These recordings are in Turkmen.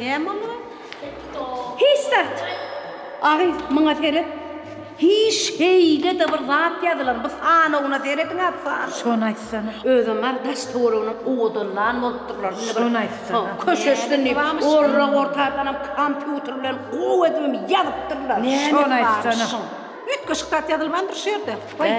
Näme olar? Hiç zat. Agy, muňa seret. Hiç heýde-de bir zat ýazylan. Bu sanawyna serediň-ä, san. Şony aýtsana. Özem bar, daş töwereginiň owadan lan bolupdyrlar. Indi bir. Şony aýtsana. Köşeşsin diýip, orra-ortadanam kompýuter bilen gowy edibem ýazypdyrlar. Näme bar şuň? Üýtgeşik zat ýazylmandyr şu ýerde. Goý.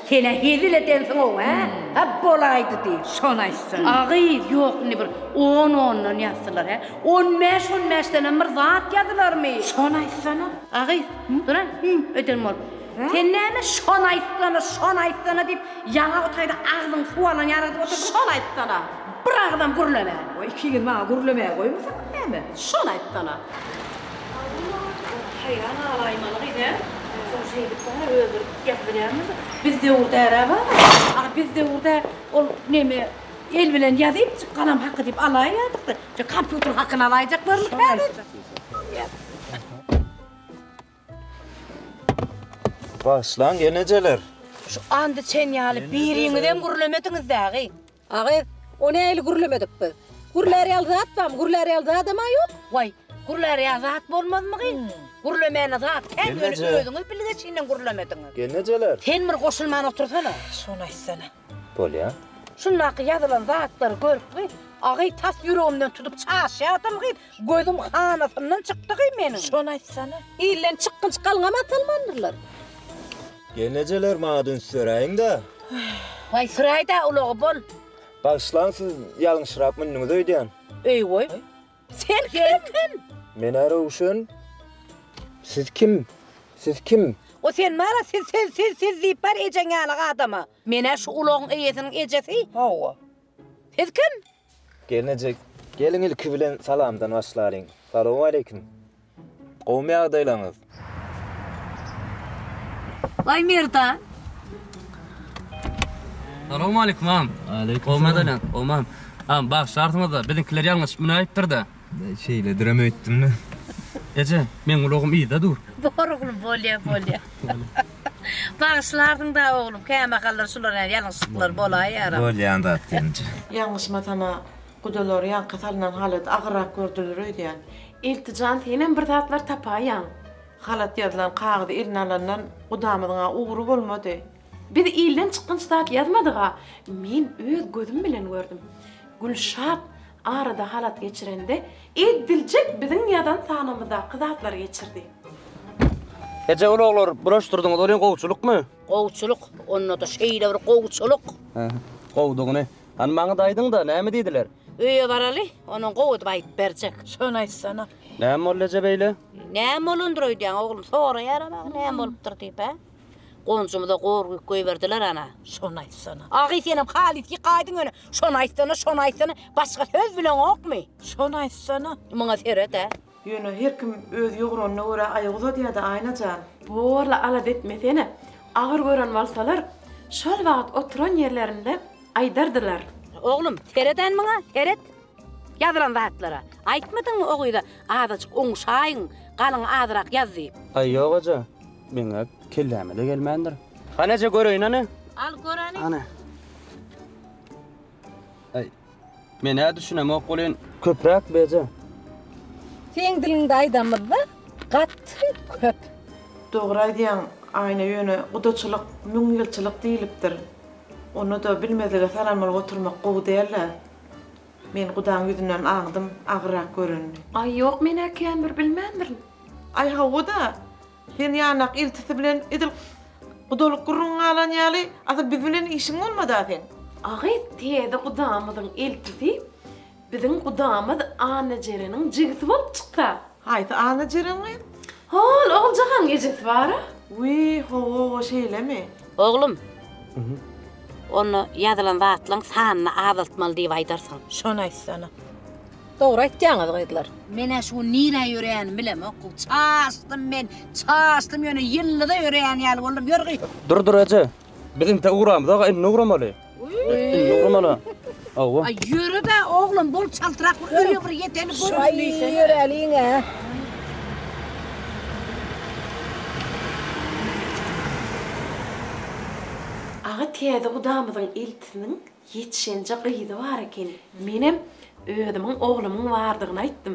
Sen-ä hezil edensiň-ow, hä? A bolaýdy diý, şony aýtsaň. A gyz, ýok indi bir on ondan ýazsylar, hä? On bäş on bäşdenem bir zat ýazylarmy? Şony aýtsana. A gyz, dur-a, hümm eden bolup. Sen näme şony aýtsana, şony aýtsana diýip, ýaňa o taýda agzyň suw alan ýaly edip otyrsyň? Şony aýtsana. Bir agzam gürlemän. Goý, iki ýyl maňa gürlemäge goýmasaňyz näme? Şony aýtsana. Haýran galaýmaly gyz he. Şol şeýdip bar ya öldürip ýazyp bilýärmiz. Biz döwür därä bar. Aha biz döwürde ol neme el bilen ýazyp galam haky diýip alaýýardyk da. Şu kompýuter hakyny alaýjaklarmyk häzir. Bagyşlaň enejeler. Şu andiçen ýaly biriňizem gürlemediňiz dägy. Agy, O nähili gürlemedik biz? Gürlär ýaly zat barmy? Gürlär ýaly zadam-a ýok. Waý, gürlär ýaly zat bolmazmygy? Gürlemäne zat kän, ýöne Gelneje. özüňiz bilgeşinden gürlemediňiz. Gelnejeler! Sen bir goşulman otursana. Şuny aýtsana. Bolýa. Şundaky ýazylan zatlary görüpmi, agy, tas ýüregimden tutup çaşýardym gyz, gözüm hanasyndan çykdy gyz meniň. Şuny aýtsana. Ilden çykgynç galňam atalmandyrlar. Gelnejeler maňa dünç söräýiňdä. Waý süräýdä ulagy bol. Bagyşlaň siz ýalňyşyrak mündüňiz öýdýän. Öýwöý. Sen kim? Men-ä Röwşen. Siz kim? Siz kim? O sen mara siz siz siz siz diýip bar ejeň ýaly adama. Men-ä şu ulagyň eýesiniň ejesi. Hawa. Siz kim? Gelnejek, geliň ilki bilen salamdan başlalyň. Salowmaleýkim. Gowumy ýagdaýlaryňyz? Waý Merdan. Salowmaleýkim, agam. Gowumy ýagdaýlaň, gowumam. Agam, bagyşlarsyňyz-da, biziňkiler ýalňyşyp münäýipdir-de. Şeýledirem öýtdüm-de. Eje, meň ulagym yzda dur. Bor oglum, bolýar, bolýar. Bagyşlarsyň-da, oglum, kämahallar şular hem ýalňyşlyklar bolaýýar. Bolýan zat gelinje. Ýalňyşmasam-a, gudalary ýaňky salnan halady agyrrak gördüler öýdýän. Ilti jan, senem bir zatlar tapaýýaň. Halat ýazylan kagyzy eline alandan gudamyzyň-a ugry bolmady. Biz ilden çykgynç zat ýazmadyk-a. Men öz gözüm bilen gördüm. Gülşat Arada halat geçirende ediljek biziň ýazan sanymyzdaky zatlary geçirdi. Eje ulaglary bulaşdyrdyňyz welin gowçulykmy? Gowçulyk, onda-da şeýle bir gowçulyk. Gowudygyny. Hany maňa-da aýdyň-da, näme diýdiler? Öýe baraly, onuň gowydyp aýdyp berjek. Şony aýtsana. Näme boldy eje beýle? Näme bolandyr öýdýäň oglum, soraýara-da näme bolupdyr diýip-ä? Gonjumyza gorgüýk goýberdiler ana, şony aýtsana. Agy senem halys ýykaýdyň ýöne, şony aýtsana, şony aýtsana, başga söz bileňokmy? Şony aýtsana. Muňa seret-ä. Ýöne her kim öz ýogranyna görä aýak uzadýa-da, Aýna jan. Borla alada etmesene. Agyr gören bolsalar, şol wagt oturan ýerlerinde aýdardylar. Oglum, seret-än muňa, seret. Ýazylan zatlara. Aýtmadyňmy o gyza azajyk oňuşaýyň, galyň azyrak ýaz diýip. Aý ýok eje, meň-ä kelläme-de gelmändir. Hany eje göreýin hany. Al gör hany. Hany. Aý, men-ä düşünemok welin, köpräk bi eje. Seň diliňde aýdamyzda gaty köp. Dogry aýdýaň Aýna ýöne gudaçylyk müň ýylçylyk diýilipdir. Ony-da bilmezlige salanmaly oturmak gowy dälä. Men gudaň ýüzünden aňdym, agyrak görenini. Aý, ýok, men-ä känbir bilmändirin. Aý, hawa-da, sen ýanak ilçisi bilen edil gudalyk gürrüňiň galan ýaly, asyl biz bilen işiň bolmad-a seň. Agyz, täze gudamyzyň ilçisi biziň gudamyz Annajereniň jigisi bolup çyksa. Haýsy Annajerem gyz? Hol Oguljahanyň ejesi bar-a? Wiý, ho-o-o, şeýlemi? Oglum, onda ýazylan zatlaryň sanyny azaltmaly diýip aýdarsyň. Şony aýtsana. Dogry aýtýaňyz, gyzlar. Men-ä şu gün nirä ýöreýänimi bilemok. Çaşdym men, çaşdym, ýöne ýyllyda ýöreýän ýaly boldum. Ýör gyt! Dur, dur, eje. Biz intä ugramyz, aga, indi ugramaly. Aga täze gudamyzyň eltisiniň ýetişenje gyzy bar ekeni. Menem özümiň oglumyň bardygyny aýtdym.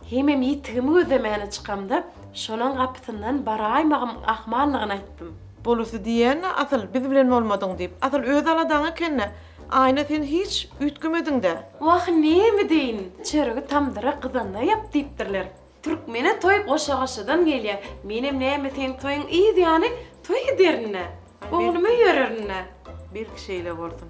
Hemem ýitigimi gözlemäne çykamda, şonuň gapysyndan baraýmagym ahmallygyny aýtdym. Bolusy diýýän-ä asyl, biz bilen bolmadyň diýip. Asyl öz aladaň eken-dä. Aýna sen hiç üýtgemediň-dä. Wah, näme deýin, çöregi tamdyra gyzanda ýap diýipdirler. Türkmene toý goşa-goşadan gelýär. Menem näme seň toýuň yz ýany toý ederin-dä. Ogluma ýörerin-dä. Belki şeýle bolsun.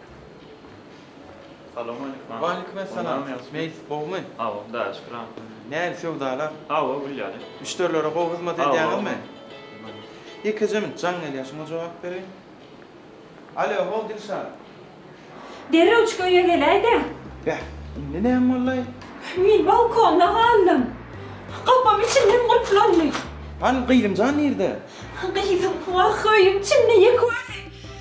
Salam aleykum. Waleýkim essalam. Meýlis gowumy? Hawa, Hudaýa şükür agam. Nähili söwdalar? Hawa, gül ýaly. Müşderilere gowy hyzmat edýäňizmi? Ýekejem jaň gelýär şuňa jogap bereýin. Alo, how Dilşat. Derrewjik öýe geläý-de. Beh, indi näme boldy? Men balkonda galdym. Gapam içimden gulplandy. Hany gyzymjan nirde? Gyzym, wah, öýüň içinde ýeke özi.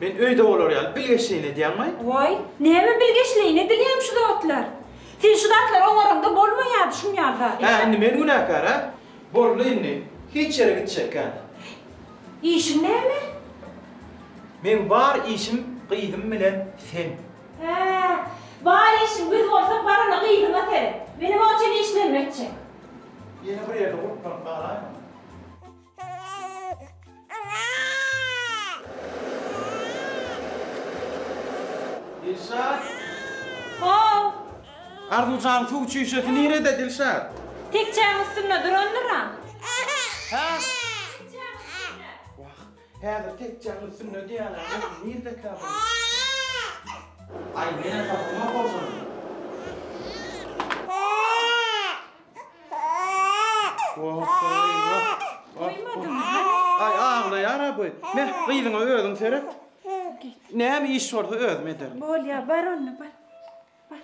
Men öýde bolar ýaly bilgeşleýin edýäňmi? Waý, näme bilgeşleýin edilýämi şu zatlar? Sen şu zatlary oňaraňda bolmaýardy şuň ýaly zat. Hä, indi men günäkär, hä? Boldy indi, hiç ýere gitjek kän. Işiň näme? Meň bar işim gyzym bilen sen. Hä, bar işiň biz bolsak barana gyzyňa seret. Menem onçeýle işlerimi etjek. Ýene bir ýerde guruplanyp galaýmaň. Dilşat! How! Arzuwjanyň suw çüýşesi nirede, Dilşat? Tekjäň üstünde durandyr-a. Hä? Wah, häzir tekjäň üstünde diýýärler, görüm nirdekä bu? Aý, men esasym ýok bolsa onda. Aý aglaýar-a bu. Meh, gyzyňa özüň seret. Näme iş bolsa özüm ederin. Bolýar, bar onda, bar. Bar.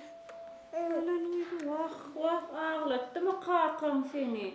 Wah, wah, aglatdymy kakaň seni?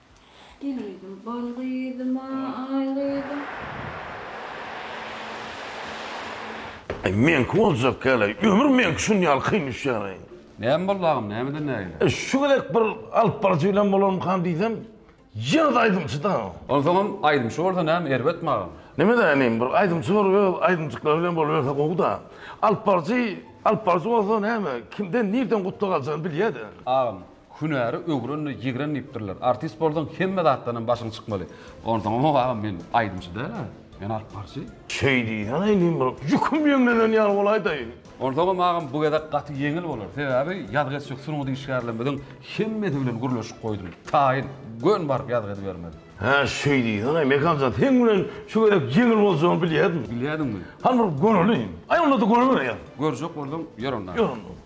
Gelin-gyzym, bal gyzym, aý gyzym. Aý, meňki boljak ýaly, ömür meňki şuny ýaly kyn düşýär-aý. Näme boldy agam, nämeden nägile? Şu gezek bir alyp baryjy bilen bolarmykam diýsem, ýene-de aýdymçy-da. Onsoňam aýdymçy bolsa näme, erbetmi agam? Neme-de inim, bir aýdymçy bolup, öz aýdymjyklary bilen boluberse gowy-da. Alyp baryjy, alyp baryjy bolsa näme, kimden, nirden gutlag aljagny bilýä-de. Agam, Hünäri öwrenle ýigren diýipdirler. Artist bolsaň hemme zatdan hem başyň çykmaly. Onsoň Ýok agam men aýdymçy dälä. Men alypbarçy. Şeý diýsene indi bir ýüküm ýeňlenen ýaly bolaýdaýyn. Onsoňam agam bu gezek gaty ýeňil bolar. Sebäbi ýazgy etjek sungat işgärlerimiziň hemmesi bilen gürleşip goýdum. Taýyn, gön baryp ýazgy edibermeli. Hä şeý diýsene Mekanjan seň bilen şu gezek ýeňil boljagyny bilýärdim. Bilýärdiňmi? Hany bir göreliň. Aý onda-da görüberýäň. Görjek bolsaň ýör onda. Ýör onda.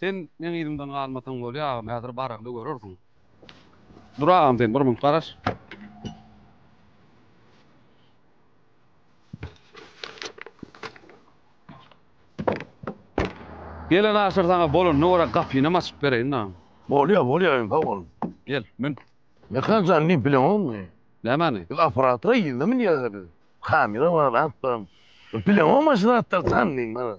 Sen meň yzymdan galmasaň bolýa agam häzir baragly görersiň. Dur agam sen bir munt garaş. Gelen aşyr saňa bolanyna görä gapynam açyp bereýin dagam. Bolýa bolýa iň sag bol. Gel mün. Mekan jan diýip bileňokmy? Nämeni? Biz operatora yzda münýäris. Kamera bar at bar. Bileňokmy şu zatlary jan diýip.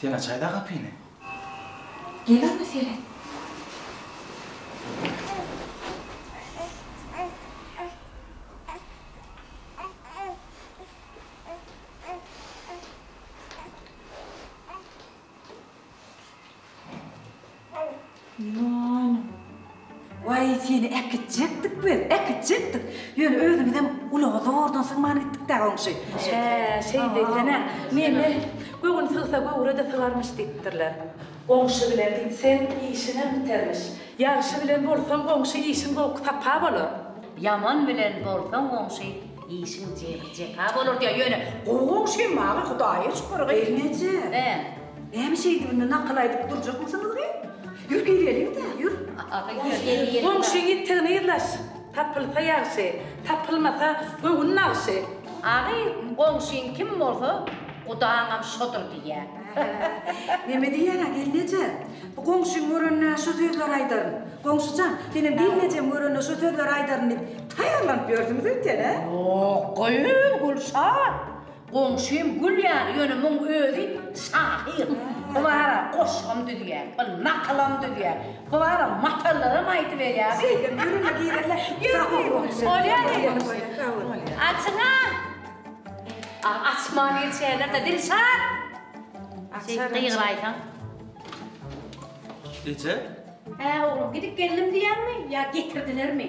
Sen açaýda gapyny. Gel ana seret. Ýanym. Waý, seni äkitjekdik biz, äkitjekdik. Ýöne özümizem ulaga zordan sygman gitdik-dä, goňşy. Hä, şeýdi ekeni. Meni göwün sygsa, göwre-de sygarmyş diýipdirler. Goňşy bilen gitseň, işiňem bitermiş. Ýagşy bilen bolsaň, goňşy, işiň zowky sapa bolar. Ýaman bilen bolsaň, goňşy, işiň jepa bolar diýýär. Ýöne, gowy goňşym, maňa Hudaýa şükür, gyz. Gelneje. Hä. Näme şeýdibini nakyl aýdyp durjakmysyňyz geý? Ýür gireliň-dä, ýür. Goňşyň ýitgini yzlaş. Tapylsa ýagşy, tapylmasa göwün nagşy. Agy, goňşyň kim bolsa, gudaňam şodur diýýär. Näme diýýär-ä, gelneje? Bu goňşyň görende şo sözleri aýdaryn. Goňşy jan, senem gelnejem görende şo sözleri aýdaryn diýip taýýarlanyp ýörsüňiz öýtýän-ä? Ýok, gyz, Gülşat! Goňşym gül ýaly ýöne muň özi şahyr. Bu bara goşgam düzýä, bir nakylam düzýä. Bu bara matallaram aýdyberýä. Şeýdem ýüregime girende sapa bolýa. Bolýa diýdi. Açyňa. A açman geçýärler-de Dilşat. Açar. Gygyraýsaň. Neçe? Hä oglum gidip geldim diýýäňmi ýa getirdilermi?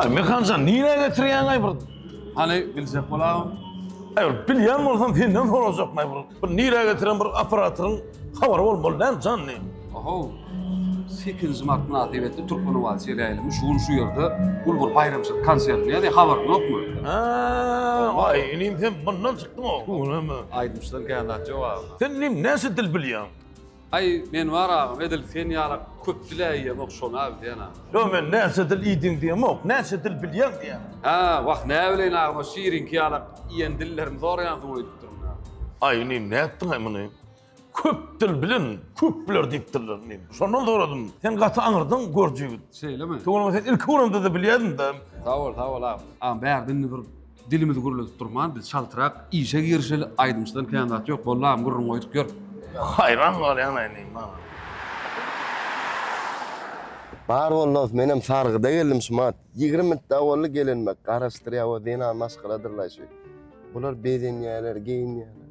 Ay Mekanjan nirä getirýäň ay bir? Hany biljek bolam. Ay bir bilýän bolsam senden sorajak ay bir. Bir nirä getiren bir operatoryň habary bolmaly däl jan ne? Oho. 8-nji mart mynasybetli Türkmenobaý seriýaly şu gün şu ýerde uly bir baýramçylyk konsertini ýa-da habaryň ýokmy? Ha, ay inim sen bundan çykdyň o. Aýdymçydan kän zat ýok agam. Sen inim näçe dil bilýäň? Aý Menbar agam edil sen ýalak köp dil äýýämok şony agzýana. Ýok men näçe dil iýdiň diýemok, näçe dil bilýäň diýýän. Hä wah näbileýin agam o şiriňki ýalak iýen dillerimi soraýansyň öýdüp durun agam. Aý inim nätdiňaý muny köp dil bilen köp biler diýipdirler inim. Şondan soradym sen gaty aňyrdyň görüji ýigit. Şeýlemi. Tuweleme sen ilki göremde-de bilýädiňdä. Sag bol sag bol agam. Agam bärde indi bir Dilimiz gürledip durman biz çaltrak işe girişeli aýdymçydan kän zat ýok bollam gürrüň goýdup ýör. Haýran galýan aýdym maňa. Bar bol dos menem sargyda geldim şumat ýigrimi minit dagy boldy gelenime garaşdyrýa o zenan maşgaladyrlaý şu bular bezenýäler geýinýäler.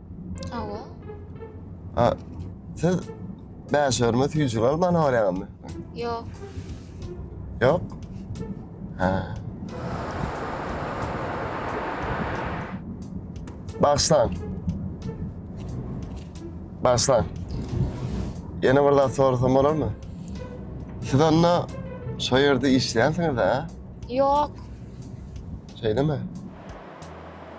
Awa. Ha, siz bäşörme süýjüri alyp bana barýaňyzmy? Ýok. Ýok? Ha. Bagşlan. Bagşlan. Ýene bir zat sorasam bolarmy? Siz onda şu ýerde işleýänsiňiz-a? Ýok. Şeýdemi?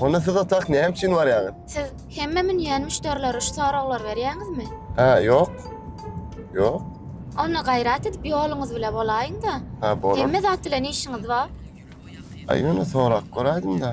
Onda siz otak näme üçin barýaňyz? Siz hemme münýän müşderilere şu soraglary berýäňizmi? Hä, ýok. Ýok. Onda gaýrat edip ýoluňyz bile bolaýyň-da. Hä, bolar. Hemme zat bilen işiňiz bar. Aý, ýöne sorap göräýdim-dä.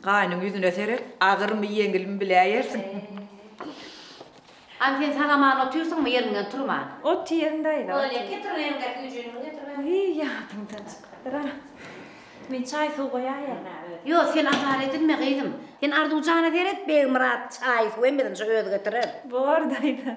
Gaýnyň ýüzüne seret, agyrmy, ýeňilmi biläýersiň. Hany sen sag-aman otyrsyňmy, ýeriňden turman? Otyryn, daýza, otyryn. Bolýa, getir öýüňdäki üýjüniňi getir berem. Wiý, ýadymdan çykypdyr-a. Men çaý-suw goýaýeryn-ä özüm. Ýok, sen azar edinme, gyzym. Sen Arzuwjana seret, Begmyrat çaý-suw hem biziňçe özi getirer. Bor, daýza.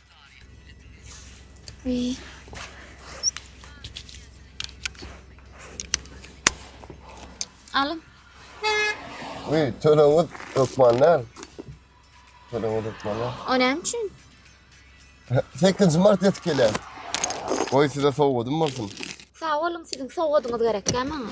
Alyn. Uý, tölegňiz hökman näl? Tölegňiz hökman näl? O näme üçin? 8 mart ýetip gelýär. Goý size sowgadym bolsun. Sag boluň, siziň sowgadyňyz gerekkä maňa?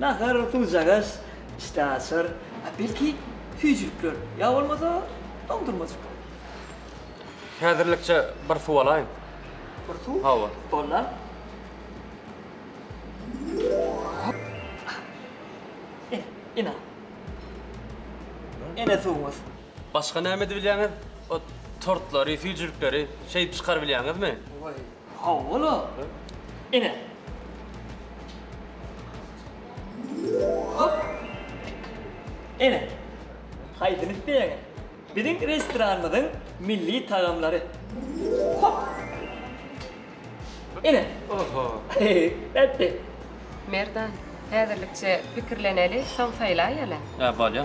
Nahar, duzjagaç, çyta açar, a belki süýjülikler, ýa bolmasa doňdurmajyklar. Häzirlikçe bir suw alaýyn. Bir suw? Hawa. Bolda. Ine. Ine suwuňyz. Başga näme edip bilýäňiz? O tortlary, süýjülikleri şeýdip çykaryp bilýäňizmi? Oý. Hawa-la. Ine. Hop. Ine. Haýsyny isleýäňiz? Biziň restoranymyzyň milli tagamlary. Hop. Ine. Oho. Bätdi. Merdan, häzirlikçe pikirleneli, soň saýlaýaly. Ýa, bolýa.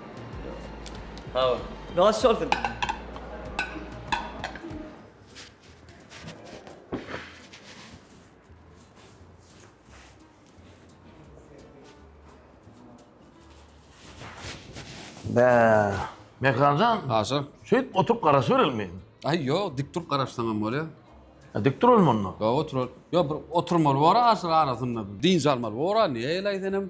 Sag ol. Ýoş bolsun. Bäh. Mehranjan, Aşa. şeýdip oturyp garaşyberelmi? Ay yok dik durup garaşsan hem bolya. E, Dik duralım onda. Yok otur. Yok bir oturmaly var aşır arasında. Dinç almalı var. Niye elay senem?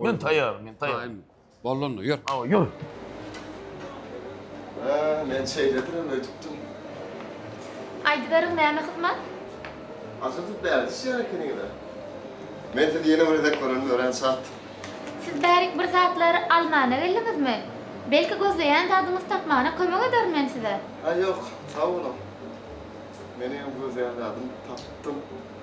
Men taýýar, men taýýar. Boldy onda, ýör. Hawa, ýör. Hä, men şeýledirem öýdüpdim. Aýdyberiň, näme hyzmat? Aja siz bärik düşýän ekeniňiz-ä. Men sizi ýene bir gezek görenim örän şat. Siz bärik bir zatlar almana geldiňizmi? Belki gözleýän zadyňyzy tapmana kömek ederin men size. Hä, ýok, sag boluň. Meniňem gözleýän zadym tapypdym.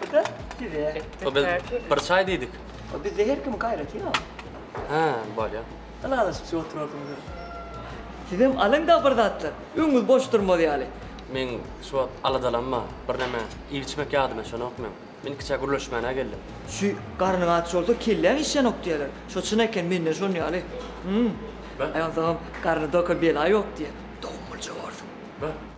Bu da size. O biz bir çay diýdik. O bizde her kim gaýrat ýa. Ha, bolýa. Ylalaşyp şu oturardyňyz. Sizem alyň-da bir zatlar. Öňüňiz boş durmaz ýaly. Men şu wagt aladalanma, birneme iýip-içmek ýadyma düşenok meň. Men iki çay gürleşmäne geldim. Şu garnyň aç bolsa kelläň işýänok diýerler. Şo çyn eken mende şon ýaly. Hum. Aýansagam garny doka bela ýok diýýär. Dogumlyja borsuň. Beh.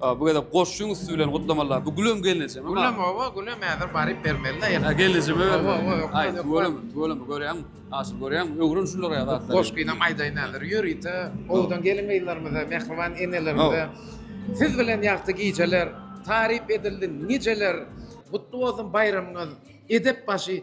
A bu gezek goşuň üsti bilen gutlamalar. Bu Gülem gelneje mi? Gülem owa, Gülem häzir baryp bermeli-de ýene. Ha gelneje mi? Owa, owa, ýok. Aý, tüweleme, tüweleme görýäňmi? Asyl görýäňmi? Öwren şulara ýa zatlar. Goşgynam aýdaýyn häzir. Ýörite owdan gelin-gyzlarymyza, mähriban enelerimize Siz bilen ýagty gijeler, taryp edildi nijeler, Gutly bolsun baýramyňyz, edep başy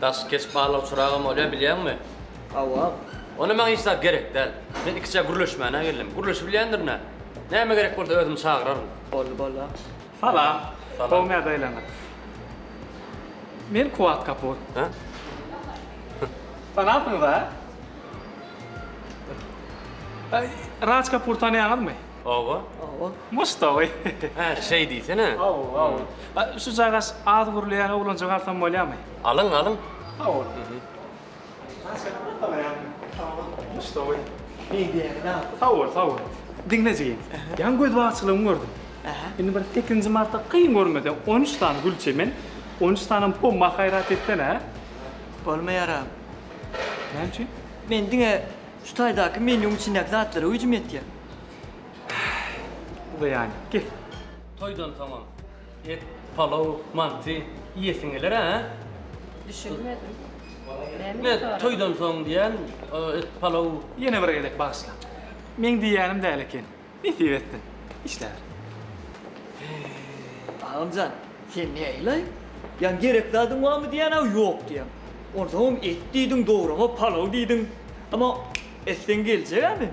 Daş keç barlag çyragam bolýar bilýäňmi? Hawa. Onda maňa hiç zat gerek däl. Men ikiçäk gürleşmäne geldim. Gürleşibilýändir nä? Näme gerek bolsa özüm çagyraryn. Boldy boldy. Salam. Salam. Gowy nädeýleňiz? Men Kuwat Kapur. Hä? Tanapsyňyz-a? Raj Kapur tanýaňyzmy? Oba. Oba. Mustawy. Hä, şeý diýsene. Oba, oba. A, şu jagaş az gürleýän oglanjygy alsam bolýamy? Alyň, alyň. Sag bol. Jagaş gelip galaýamy? Sag bol. Mustawy. Şeý diýäýeli a. Sag bol, sag bol. Diňle jigim. Ýaňy göz bagçylygyňy gördüm. Ähä. Indi bir sekizinji marta kyn görmesem, on üç sany gül çemen, on üç sanam pomma haýrat etsene, hä? Bolmaýar a. Näme üçin? Men diňe şu taýdaky menýuň içindäki zatlara güýjüm ýetýär. Uzaýan ki. Toýdan soňam et, palaw, manty iýesiň geler a? Düşünmedim. Näme sorap? Toýdan soň diýen et, palaw. Ýene bir gezek bagyşla. Meň diýýänim däl eken. Nesip etsin. Işläber. Agamjan, sen näleý? Ýa gerek zadyň barmy diýýän-ä ýok diýýäň. Onsoňam et diýdiň, dograma palaw diýdiň. Emma etseň geljek-ä men.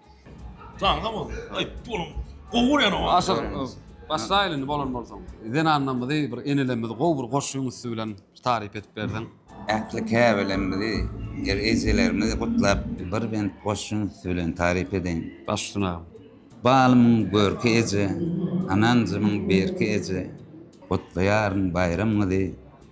Sag bol. Aý, pulum. Gowy görýän owadan. Aşyr, başlaýyl indi bolan bolsaň. Zenanlarymyzy, bir enelerimizi gowy bir goşgyň üsti bilen taryp edip berseň. Ähli käbelerimizi, er-ejelerimizi gutlap, bir bent goşgyň üsti bilen taryp edeýin. Baş üstüne agam. Balymyň görki eje, Ananjymyň berki eje, Gutlaýaryn baýramyňyzy,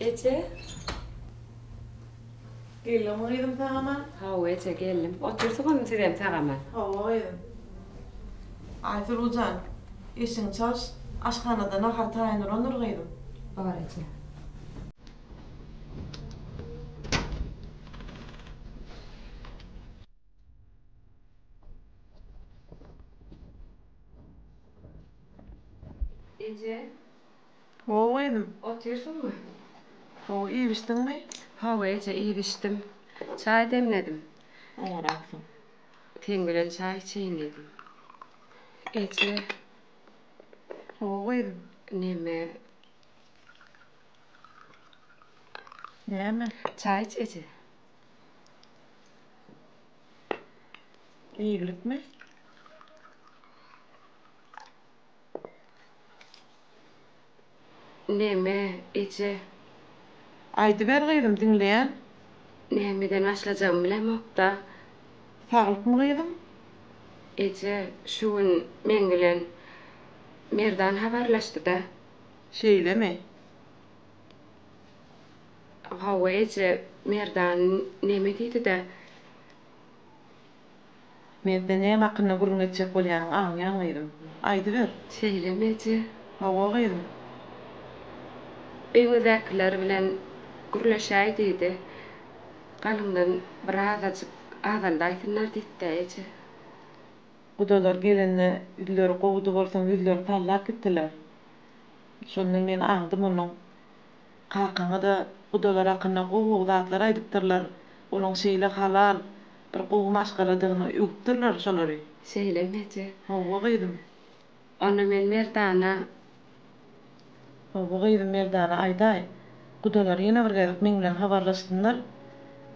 Eje. Geldiňmi gyzym tagama? Hawa eje geldim. Otursyň indi sizem tagama. Hawa gyzym. Aýsuluw jan, eşigiňi çalyş, aşhanada nahar taýynlandyr gyzym. Bar eje. Eje. Ho gyzym. Otyrsyňmy? Ho, iýibişdiňmi? Hawa eje, iýibişdim. Çaý demledim. Oňaraksyň. Seň bilen çaý içeýin diýdim. Eje. Ho gyzym. Neme? Näme? Çaý iç eje. Eýgilikmi? Näme, eje? Aýdyber gyzym, diňleýän. Nämeden başlajagymy bilemok-da. Saglykmy gyzym? Eje, şu gün meň bilen Merdan habarlaşdy-da. Şeýlemi? Hawa eje, Merdan neme diýdi-dä? Merde näme hakynda gürrüň etjek bolýanyňy aňýan gyzym. Aýdyber. Şeýlemi eje? Hawa gyzym. Öýüňizdäkiler bilen gürleşäý diýdi. Galyňdan birazajyk azaldaýsynlar diýdi-dä eje. Gudalar gelende ýüzleri gowudy bolsaň ýüzlerini sallap gitdiler. Şonda men aňdym onuň Kakaňa-da gudalar hakynda gowy-gowy zatlar aýdypdyrlar. Olaň şeýle halal, bir gowy maşgaladygyny öwüpdirler şolary. Şeýlemi eje? Hawa, gyzym. Onda men Merdana. Hawa, gyzym, Merdana aýdaý. Gudalar ýene bir gezek meň bilen habarlaşsynlar.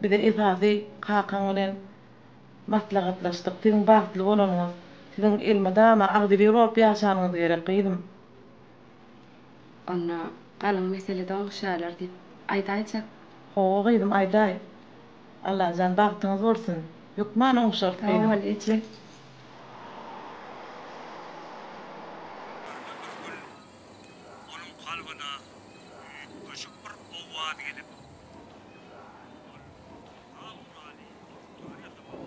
Biz-ä esasy kakaň bilen maslahatlaşdyk. Siziň bagtly bolanyňyz, siziň elmydama agzybir bolup ýaşanyňyz gerek, gyzym. Onda galyň meselede oňuşýarlar diýip aýdaýjak. Hawa gyzym aýdaý. Allajan bagtyňyz bolsun. Hökman oňuşarys gyzym. Sag bol eje. Gördi Nurgül, onuň kalbyna üýtgeşik bir owaz gelip, Ol al guraly, oturýan ýasaman.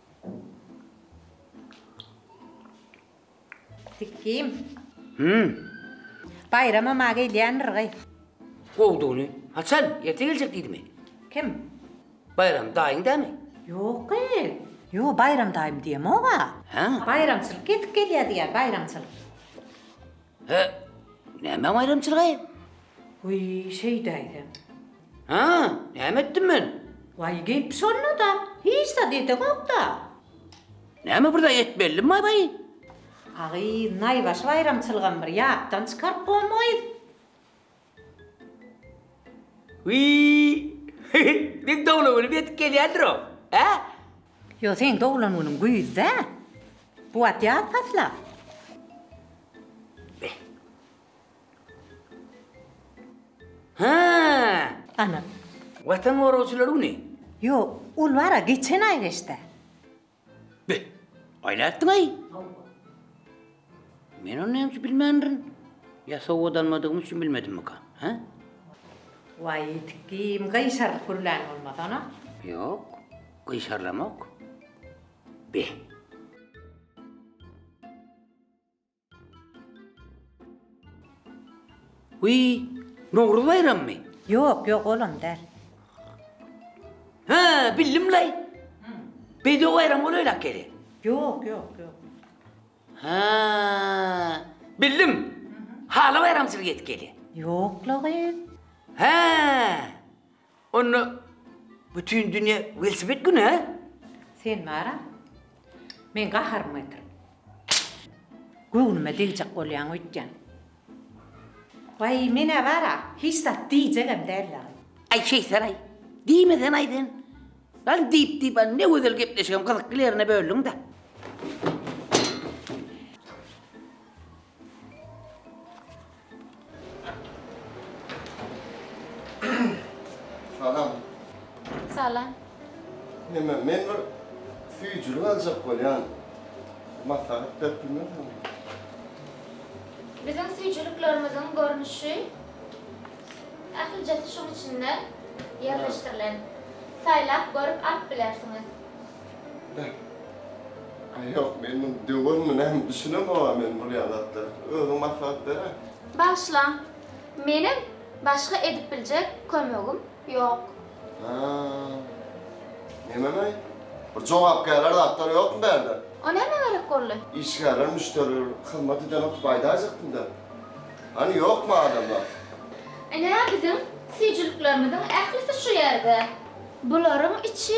Sikim. Hümm. Baýrama ma gelýändir gyz. Gowdugyny. Haçan? Erte geljek diýdimi? Kim? Baýram daýyň dämi? Ýok gyz. Ýo, Baýram daýym diýemog-a. Hä? Baýramçylyk ýetip gelýär diýýär, baýramçylyk. Hä? Näme baýramçylygy? Wiý, şeýdäýsem. Hä, näme etdim men? Waý, gep şonda-da, hiç zat edeňok-da. Näme bir zat etmelidin baý-baý? Agy, naýbaşy baýramçylygam bir ýatdan çykaryp goýmaýys. Wiý! Meň doglan günim ýetip gelýändir-ow, hä? Ýok, seň doglan günüň güýzde. Bu wagt ýaz pasly-a. Hä! Ana. Watan goragçylary güni? Ýok, ol bar-a, geçen aý geçdi. Be! Aý nätdiň-aý? Men ony näme üçin bilmändirin? Ýa sowgat almadygym üçin bilmedimmika, hä? Waý, ýetik kim, gyşarylyp gürlän bolmasana? Ýok, gyşarylamok. Be! Wiý, Nowruz baýrammy? Ýok, ýok, olam däl. Hä, bildim-laý. Bedew baýramy bolaýlak gele. Ýok, ýok, ýok. Hä, bildim. Hala baýramçylyk edip gele. Ýok-la gyz. Hä. Onda bütin dünýä welosiped güni, hä? Sen bar-a, meň gaharymy getirip, göwnüme degjek bolýaň öýtýän. Waý, men-ä bar-a, hiç zat diýjegem däl ýaly. Aý, Şeýtar-aý, diýme sen-aý sen. Ýaly diýip-diýip, a ne gözel gepleşigem gyzykly ýerine böldüň-dä. Salam. Salam. Neme, men bir süýjülik aljak bolýan. Maslahat berip bilmersiňizmi? Biziň süýjüliklerimiziň görnüşi ählijesi şuň içinde ýerleşdirilen. Saýlap görüp alyp bilersiňiz. Aý ýok, men muny döwermi näme düşünemog-a men bul ýaly zatlara. Özüň maslahat ber-ä. Bagyşlaň, menem başga edip biljek kömegim ýok. Hä? Nenemeý? Bir jogapkärler zatlar ýokmy bärde? O nämä gerek boldy? Işgärler, müşderiler hyzmat eden oturyp aýdaýjakdy-da. Hany ýokmy adamlar? Ine biziň süýjüliklerimiziň ählisi şu ýerde. Bularyň içi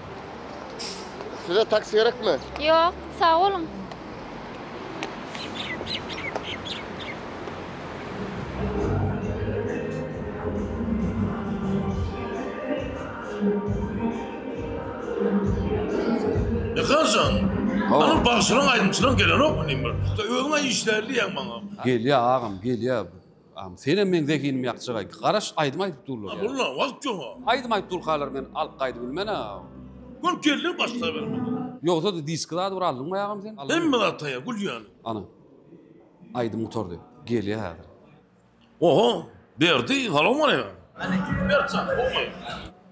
Size taksi gerekmi? Ýok, sag boluň. Ýakanjan, onuň bagşylaň aýdymçylaň gelenokmy diýiň bir. Özüň-ä işlärli diýýäň maňa. Gelýär agam, gelýär. Am senem meň zehinim ýakjagaý. Garaş aýdym aýdyp durlar ýa. Mulla wagt ýoga. Aýdym aýdyp durkalar men alyp gaýdyp bilmen a. Gül geldi başla bermeli. Ýogsady diski zady bir aldyňmy agam sen. Hemme zat taýýar gül ýaly. Ana. Aýdym gutardy. Gelýä häzir. Oho. Berdi. Salowmaleýkim. Aleýkum Berkjan. Gowy.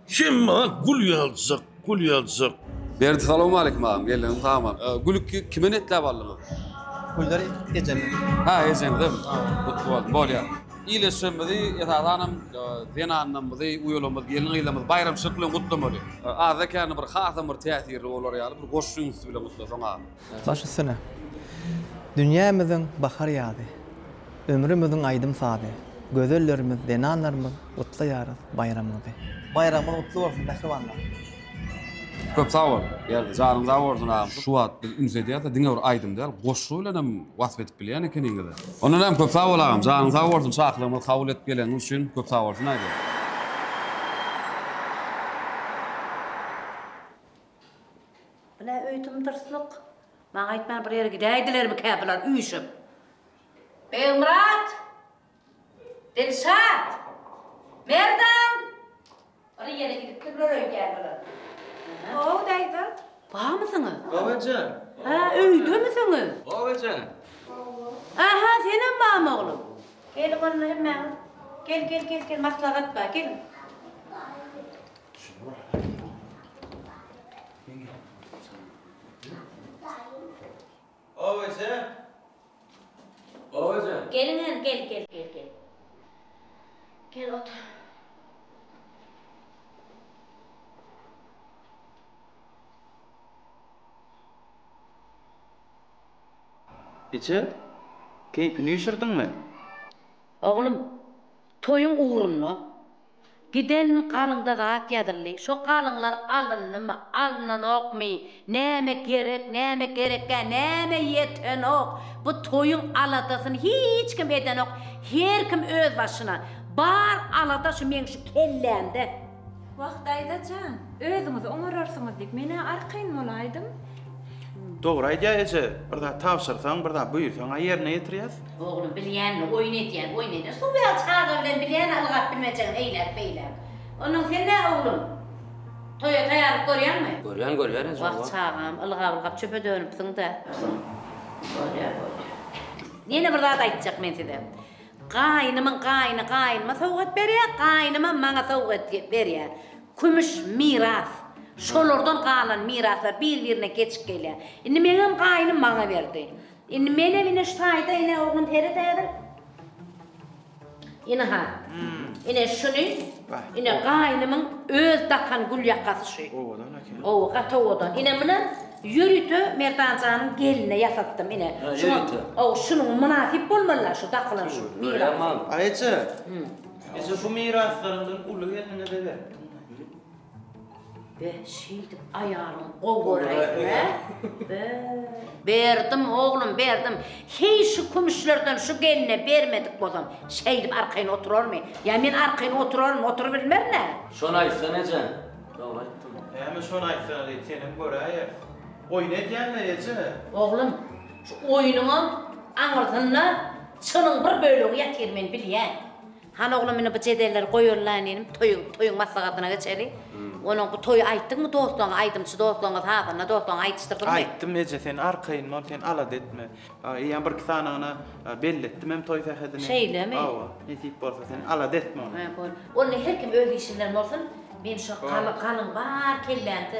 Sen maňa gül ýaljak, gül ýaljak. Berdi salawmaleýkim agam geldiňiz sag bol. Gülki kime netläp aldyňyz? Gülleri ejeme. Hä ejeňizem. Gutly bolsun. Bolýar. Iýleşjegimizi esasanam zenanlarymyzy, uýalarymyzy, gelin-gyzlarymyzy baýramçylyk bilen gutlamaly. Azekäni bir hasam bir täsirli bolar ýaly bir goşgy ünsdi bilen gutlasaň agam. Baş üstüne. Dünýämiziň bahar-ýazy, Ömrümiziň aýdym-sazy, Gözellerimiz, zenanlarymyz Gutlaýarys baýramyňyzy. Baýramyňyz gutly bolsun mähribanlar. Köp sag bol Berdi. Janyň sag bolsun agam. Şu wagt biz üns edýäs-de diňe bir aýdym däl, goşgy bilen hem wasp edip bilýän ekeniňiz-ä. Onda näme köp sag bol agam. Janyň sag bolsun çakylygymyzy kabul edip geleniňiz üçin köp sag bolsun aýdýan. Bu nä öýdüm dyrslyk? Maňa aýtman bir ýere gidäýdilermikä bular üýşüp? Begmyrat! Dilşat! Merdan! Bir ýere gidipdirler öýdýän bular. How daýza! Barmysyňyz? Hawa jan! Hä, öýdemisiňiz? Hawa jan! Aha, senem barmy oglum? Geliň onda hemmäňiz. Gel, gel, gel, gel, maslahat bar, geliň. Eje, keýpini üşürdiňmi? Oglum, toýuň ugrunda. Giden galyňda zat ýazyldy. Şo galyňlar alyndymy, alnanokmy, näme gerek, näme gerekgä, näme ýetenok, bu toýuň aladasyny hiç kim edenok, her kim öz başyna. Bar alada şu meň şu kellämde. Wah, daýza jan, özüňiz oňararsyňyz diýip, men-ä arkaýyn bolaýdym. Dogry aýdýa eje, bir zat tabşyrsaň, bir zat buýursaň-a ýerine ýetirýäs. Oglum bilýänini oýun edýän, oýun edýän. Suw ýaly çaga bilen bilýän ylgap bilmejegini eýläk beýläk. Ondan sen nä oglum? Toýa taýýarlyk görýäňmi? Görýän görýän eje. Wah çagam, ylgap ylgap çöpe dönüpsiň-dä. Bolýa bolýa. Ýene bir zat aýtjak men size. Gaýynymyň gaýyny gaýynyma sowgat berýä, gaýynymam maňa sowgat berýä. Kümüş miras. Şolardan galan miraslar bir-birine geçip gelýär. Indi meňem gaýnym maňa berdi. Indi menem ine şu taýda ine oglum Ferit häzir. Ine-ha. Ine şuny ine gaýnymyň öz dakan gül ýakasy şu. Owadan eken. Ow, gaty owadan. Ine muny ýörite Merdanjanyň gelnine ýasatdym ine. Şuňa, ow, şunuň mynasyp bolmaly-la şu dakylan şu miras. Aýça. Eje bu miraslarymdan uly gelniňize beripdiňmi? Be, şeýdip aýalyň gowy göräýdi-le. Be. Berdim, oglum, berdim. Heý, şu kümüşlerden şu gelne bermedik bolsam, şeýdip arkaýyn oturarmy? Ýa men arkaýyn oturaryn, oturybilmerin-ä. Şony aýtsana, eje. Dogry aýtdym. Näme şony aýtsana diýip, senem göräýeris. Oýun edýäň-le, eje? Oglum. Şu oýunyňam aňyrsynda çynyň bir bölegi ýatyr men bilýän. Hany oglam indi bu jedelleri goýalylaýyn inim toýy toýuň maslahatyna geçeli. Onuň bu toýy aýtdyňmy dostlaryňa aýdymçy dostlaryňa sazanda dostlaryňa aýdyşdyrdyňmy? Aýtdym eje sen arkaýyn bol sen alada etme. Eýýäm birki sanagyna belli etdim hem toý sähedini. Şeýlemi? Hawa nesip bolsa sen alada etme ony. Onda her kim öz işi bilen bolsun men şu galyň bar kellämde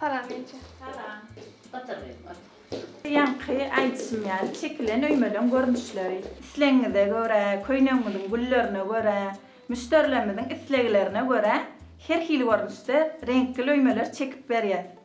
Salam eje. Salam. Otur gyzym, otur. Ýaňky aýdyşym ýaly, çekilen öýmeleň görnüşleri. Islegiňize görä, köýnegiňiziň güllerine görä, müşderilerimiziň isleglerine görä her hili görnüşde reňkli öýmeler çekip berýäs.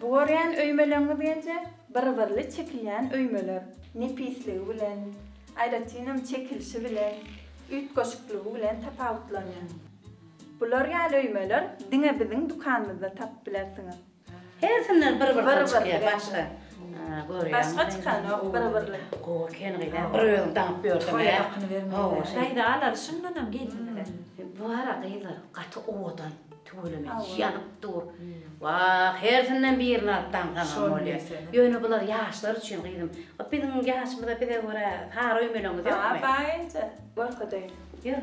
Bu görýän öýmeleňňiz genje bir-birli çekilýän öýmeler. Nepisligi bilen, aýratynam çekilişi bilen, üýtgeşikliigi bilen tapawutlanýar. Bular ýaly öýmeler diňe biziň dükanymyzda tapyp bilersiňiz. Hersinden bir bir bir bir başga görýän. Başga çykanok bir birli. Gowy eken gyz a bir özüň daňyp ýörseň. Toýa hakyny bermezler. Daýza alary şundanam gelinler. Bu ara gyzlar gaty owadan tüweleme ýanyp dur. Wah hersinden birini alyp daňsaňam bolýa. Ýöne bular ýaşlar üçin gyzym. Biziň ýaşymyza bize görä sary öýmeleňiz ýokmy? Bar bar enje görkezeýin. Ýör.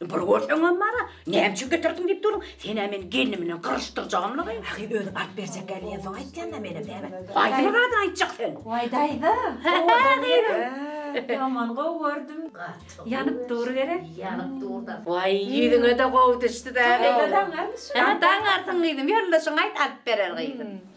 Bir görseňem bar-a, näme üçin getirdiň diýip durun. Sen-ä meni gelnim bilen gyryşdyrjagymlygy? Ahy, özi alyp berjekkä diýensoň aýtýan-da menem, näme? Haýsy bir zadyny aýtjak sen? Waý, daýza, owadan ýeri. Ýaman gowy gördüm. Gaty. Ýanyp dur gerek. Ýanyp dur-da. Waý, ýüzüňe-de gowy düşdi dagy. Daňarmy şo? Daňarsyň gyzym, ýoldaşyňa aýt, alyp berer gyzym.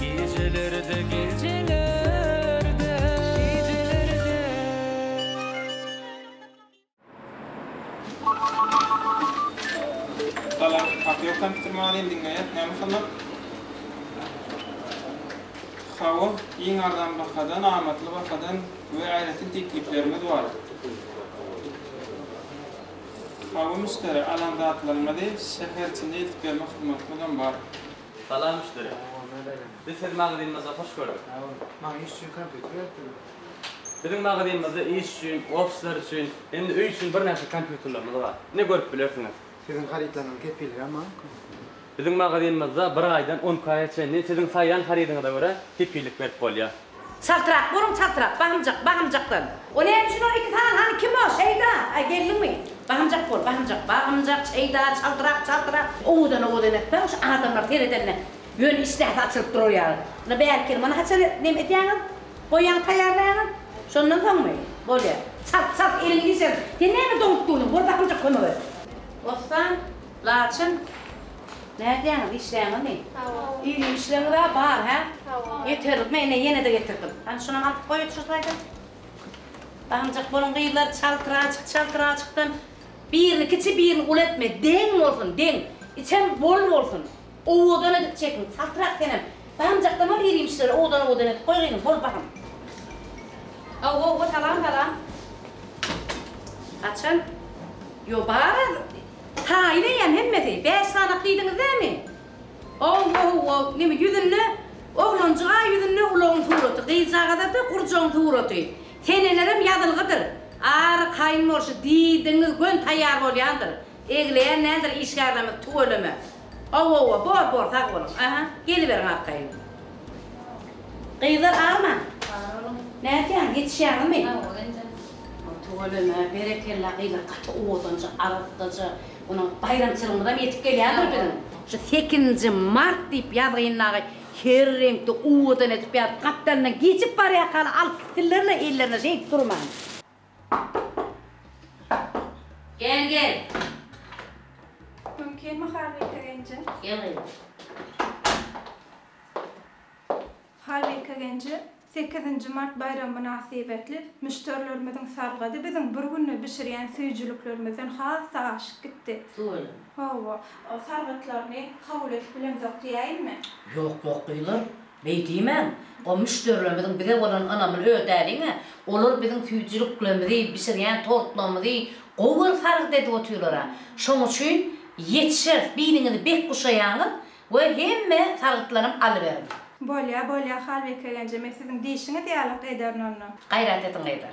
Gijelerde gijelerde gijelerde Salam haky ýok kompýuter maňa deýin diňleýär näme masalan Hawa iň arzan bahadan amatly bahadan we aýratyn tekliplerimiz bar Hawa müşderi alan zatlaryňyzy şäher içinde eltip bermek hyzmatymyzam bar. Salam müşderi. Biz sizi magazynymyzda hoş gördük. Sag boluň. Maňa iş üçin kompýuter gerekdimi? Biziň magazynymyzda iş üçin, ofisler üçin hem-de öý üçin birnäçe kompýuterlerimiz bar. Ine görüp bilersiňiz. Siziň harytlaryňyzyň kepilligem barmyka? Biziň magazynymyzda bir aýdan on iki aýa çenli siziň saýlan harydyňyza görä kepillik berip bolýar. Çaltrak boluň çaltrak bahymjak bahymjakdan. O näme üçin ol iki sany hany kim o Şeýda a geldiňmi bahymjak bol bahymjak bahymjak Şeýda çaltrak çaltrak. Owadan owadan etme şu adamlar seredende ýöne işdäsi açylyp durar ýaly na bärkeli muny haçan neme etýäňiz goýýaňyz taýýarlaýaňyz şondan soňmy bolýa çalt çalt eliňi işerin sen näme doňup durdyň bor bahymjak kömek et. Bossan Laçyn nädýäňiz işleýäňizmi? Hawa. Ýeňil işleňizä bar hä? Hawa. Ýeterlik men ine ýenede getirdim. Hany şunam atyp goýuç şu taýdan. Daňjak boluň gyzlar çaltraçyk çaltraçykdan birini kiçi birini uly etme deň bolsun deň içem bol bolsun owadan edip çekiň çaltrak senem daňjakdan al ýerimşleri owadan owadan edip goý gyzym bol bahym. Hawa hawa salam salam. Haçan? Ýo bar Taýyn eýýäm hemmesi. Bäş sanak diýdiňiz näme? Ow-ow-ow, näme ýüzünde oglanjyga ýüzünde ulagyň suraty, gyzjagazada gurjagyň suraty. Senelerem ýazylgydyr. Ary kaýyn bolşy diýdiňiz gön taýýar bolýandyr. Egleýän däldir işgärlerimiz tüweleme. Awowa bor bor sag boluň aha geliberiň arkaýyn gyzlar agyrmaň nätýäňiz ýetişýäňizmi. Hawa geljeň. Tüweleme berekella gyzlar gaty owadanja arassaja mundan baýramçylygymyzam ýetip gelýändir biziň. Şu sekizinji mart diýip ýazgyn dagy her reňkde owadan edip ýazyp gapdalyndan geçip barýakaly alyp gitsinlerle ellerine şeýdip durman. Gel gel. Mümkin mi Halbike genje? Gel gyzym. Halbike genje sekizinji mart baýramy mynasybetli müşderilerimiziň salgady biziň bir günde bişirýän süýjüliklerimizden has-da aşyp gitdi. Suweleme. Hawa, salgytlaryny kabul edip bilemzok diýäýinmi? Ýok, ýok gyzlar. Beý diýmäň, o müşderilerimiziň bize bolan ynamyny ödäliň-ä, olar biziň süýjüliklerimizi, bişirýän tortlarymyzy gowy bir sargyt edip otyrlar-a. Şoň üçin ýetişeris, biliňizi bek guşaýaňyz we hemme sargytlaram alyberiň. Bolýa, bolýa, Halbekegen-je, men siziň diýşiňiz ýaly-ak ederin onda. Gaýrat ediň, gyzlar.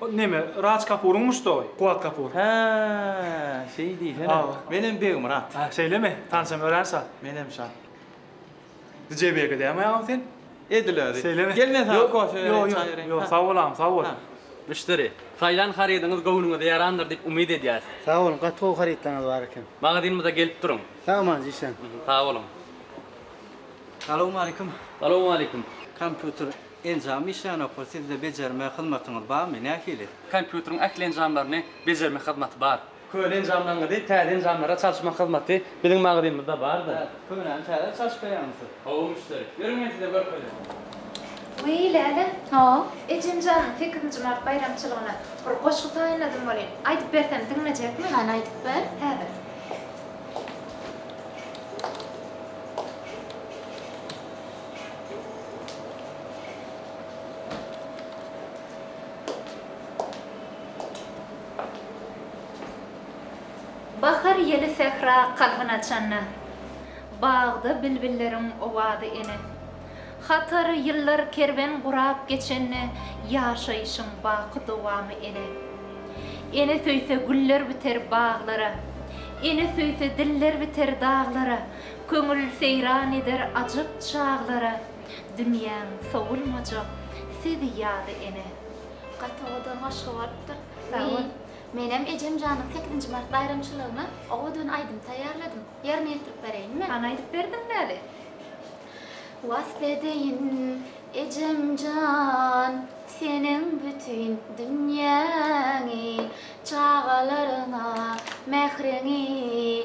O neme, Raj Kapuryň muşdagy, Kuwat Kapur. Hä, şeý diýsene. Menem Begmyrat. Hä, şeýlemi? Tanşam örän şat. Menem şat. DJ Beg edýäňmi agam sen? Edil özi. Şeýlemi? Gel men saňa kofe bereýin, çaý bereýin. Ýok, sag bol agam, sag bol. Müşderi, Saýlan harydyňyz göwnüňize ýarandyr diýip umyt edýäs. Sag boluň, gaty gowy harytlaryňyz bar eken. Magazynymyza gelip duruň. Sagbolsun, işläň. Sag boluň. Salowmaleýkim. Salowmaleýkim. Kompýuter Enjamy işlänokmy, sizde bejerme hyzmatyňyz barmy, nähili? Kompýuteriň ähli enjamlaryny bejerme hyzmaty bar. Köne enjamlaryňyzy täze enjamlara çalyşmak hyzmaty biziň magazynymyzda bardyr. Hä, könäni täze çalyşyp berýäňmi siz? Hawa, müşderi. Ýörüň men size görkezýän. Wiý, Lälen, o, ejem janyň sekizinji mart baýramçylygyna bir goşgy taýynladym welin, aýdyp bersem diňlejekmi? Hany aýdyp ber. Häzir. Bahar ýeli sähra kalbyn açanda, Bagda bilbilleriň owady ene. Hatar ýyllar kerwen gurap geçende, Ýaşaýşyň baky dowamy ene. Ene söýse güller biter baglara, Ene söýse diller biter daglara. Köňül seýran eder ajap çaglara, Dünýäň sowulmajak sezi ýaly ene. Gaty gowy dön goşgy bolupdyr. Sag bol. Menem Ejemjanyň sekizinji mart baýramçylygyna gowy dön aýdym taýýarladym. Ýerine ýetirip bereýinmi? Hany aýdyp ber diňläli. Wasp edeýin Ejemjan seniň bütin dünýäňi, Çagalaryňa mähriňi,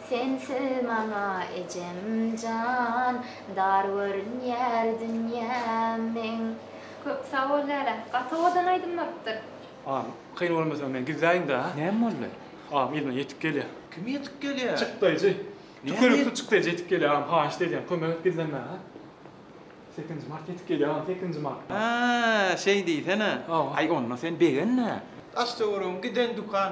Sensiz maňa ejem jan, dar görünýär dünýäm meň. Köp sag bol Läle. Gaty owadan aýdym bolupdyr. Agam kyn bolmasa men gizläýin da. Näme boldy? Agam elime ýetik gelýär. Kim ýetik gelýär? Çykdaýjy. Tükürükli çykdaýjy ýetik gelýär agam haýyşt edýän kömek et gizlenmäge. Sekizinji mart ýetik gelýär agam sekizinji martda. Haa şeý diýsene. Aý onda sen begenme. Daş töweregiň giden dükan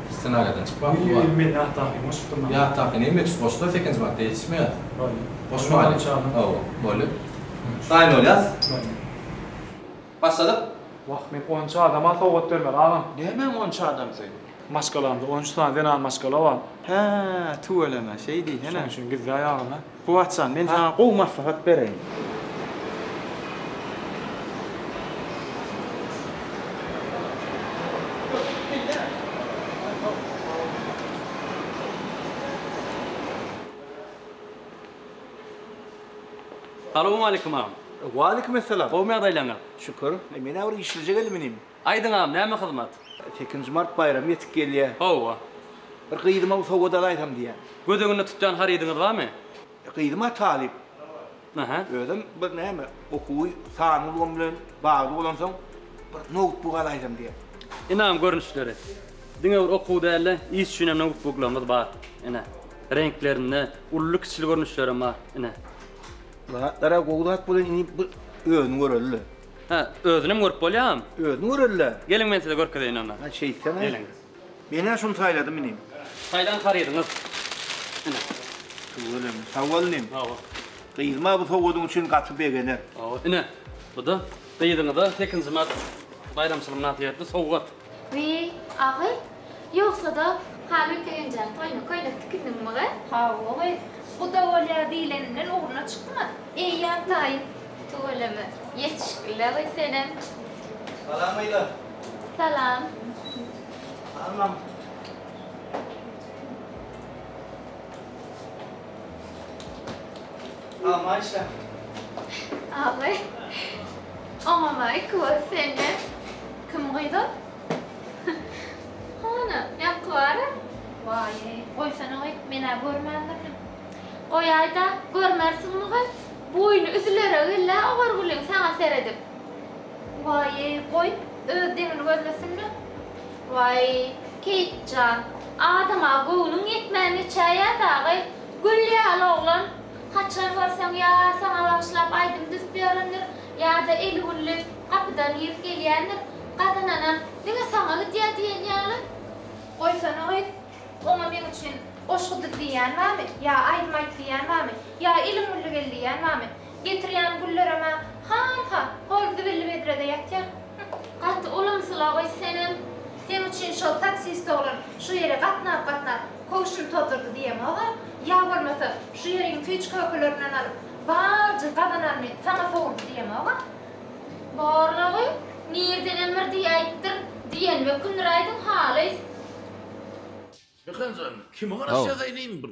Ssenariýadan çykmak bu bar. Men ýatdaky goşupdyryn. Ýatdaky näme üçin goşular sekinji madda ýetişmeýär. Bolýa. Goşmaly. Hawa, bolýa. Daýyn bolýas? Bolýa. Başladyk. Wah, men on üç adama sowgat bermeli agam. Nämäň on üç adam sen? Maşgalamda on üç sany zenan maşgala bar. Hä, tüweleme, şeý diýsene. Şoň üçin gizläýýarin-ä. Kuwat jan, men saňa gowy maslahat bereýin. Salowmaleýkim agam. Waleýkim essalam. Gowmy ýagdaýlaryňyz? Şükür. Men-ä bir işleje geldim inim. Aýdyň agam näme hyzmat. Sekizinji mart baýramy ýetip gelýä. Hawa. Bir gyzyma sowgat alaýsam diýýän. Göz öňünde tutýan harydyňyz barmy? Gyzym-a talyp. Aha. Özem bir näme okuwy sanly ulgam bilen bagly bolansoň bir noutbuk alaýsam diýýän. Ynam görnüşleri. Diňe bir okuw däl-de, iş üçin hem noutbuklarymyz bar. Ine. Reňklerinde uly-kiçili görnüşlerem bar. Ine. Bu zatlar-a gowy zat bolan, indi bir özüni göreli-le. Hä, özünem görüp bolýam? Özüň göreli-le. Geliň men size görkezeýin onda. Hä, şeýtseň-ä. Geliň. Men-ä şuny saýladym inim. Saýlan harydyňyz. Ine. Tüweleme. Sag bol inim. Sag bol. Gyzyma bu sowgadyň üçin gaty begener. Hawa. Ine, bu-da gyzyňyza sekizinji mart baýramçylygy mynasybetli sowgat. Wiý, agy, ýogsa-da Haly Köýenjanyň toýuna köýnek tikindiňmigy? Hawa, gyz. Guda bolýar diýleninden ugruna çykma. Eýýäm taýyn. Tüweleme. Ýetişikli-le, gyz, senem. Salam, gyzlar. Salam. Salam, mama. Salam Aýşe. Awy. Oňa maý köz sende. Kim gyz ol? Hany, ýaňky bara? Waýý, goýsana-goý, men-ä görmändirdim. Goýaý-da, görmersiňmi-goý, boýny üzüler-ä gel-ä Ogurgulyň saňa seredip. Waýý, goý, öz deňini görmesin-le. Waý, Keýik jan, adama göwnüň ýetmän geçäýýä dagy, Gül ýaly oglan, haçan görseň ýa saňa bagyşlap aýdym düzüp ýörendir, ýa-da eli gülli gapydan girip gelýändir, gazananam diňe saňa gidýär diýen ýaly. Goýsana gyz, oňa meň üçin goşgy düz diýýän barmy, ýa aýdym aýt diýýän barmy, ýa eliň gülli gel diýýän barmy? Getirýän güllerem-ä hanha, hol zibilli bedrede ýatýar. Hüh, gaty ulumsylagoý senem. Seň üçin şol taksist oglan şu ýere gatnap-gatnap, köwşüni tozdurdy diýemog-a. Ýa bolmasa, şu ýeriň tüýçkökelerinden alyp, barjy gazananyny saňa sowurdy diýemog-a. Barlygy nirdenem bir diýäýipdir, diýenime kündüräýdiň halys. Mekan jan, kime garaşýas eýlin bir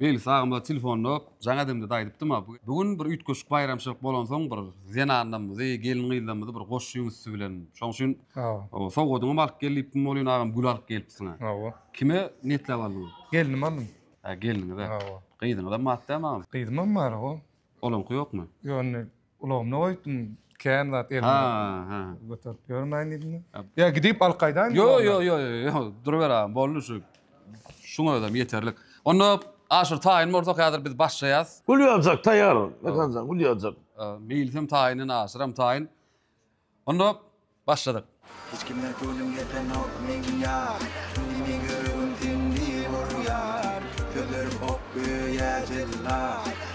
Beýle sagymda telefonda jaň edemde-de aýdypdym-a, bu gün bir üýtgeşik baýramçylyk bolansoň bir zenanlarymyzy, gelin-gyzlarymyzy bir goşuň üsti bilen, şoň üçin sowgadyňam alyp gel diýipdim, welin agam gül alyp gelipsiň-ä. Hawa. Kime niýetläp aldyň? Gelnime aldym. Hä, gelniňize. Hawa. Gyzyňyzam bar dämi agam? Gyzymam bar-a. Olaňky ýokmy? Ýok, indi Ulagymda goýupdym, kän zat elimde. Ha-ha. Göterip ýörmäýin diýdim. Ýa gidip alyp gaýdaýynmy? Ýo-ýo-ýo-ýo, duruber agam, boldy şu. Şuň özem ýeterlik. Onda aşyr taýyn bolsa häzir biz başlaýas. Gülýazjak taýýar, Mekanjan, gülýazjak. Meýlisem taýyn, aşyram taýyn. Onda başladyk. Hiç kime köwlüm ýetenok meň ýar, Indi ýüregim sindi urýar. Sözlerim ok göýä jella,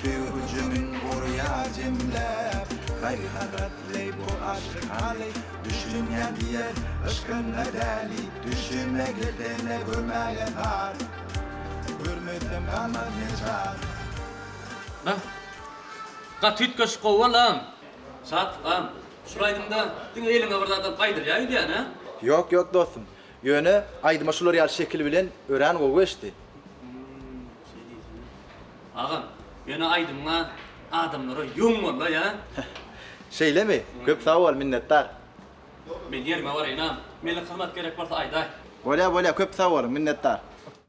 Söýgi hüjümin gurýar jemläp. Gaýgy hasrat leý bu aşyk haly, Düşünýän diýer, yşkynda däli. Düşüme girsene gömäýen har, Görmesem galmaz ne çar. Bäh, gaty üýtgeşik gowy bolan. Şat han, şul aýdymda diňe eliňe bir zat alyp gaýdylýar gidýän hä? Ýok ýok dostum. Ýöne aýdyma şular ýaly şekil bilen örän gowy geçdi. Hmmm şeý diýsene. Agam, ýöne aýdymyňa adamlara ýüň boldy ýa. Şeýlemi? Köp sag bol, minnetdar. Men ýerime baraýynam. Meniň hyzmat gerek bolsa aýdaý. Bolýa bolýa köp sag boluň, minnetdar.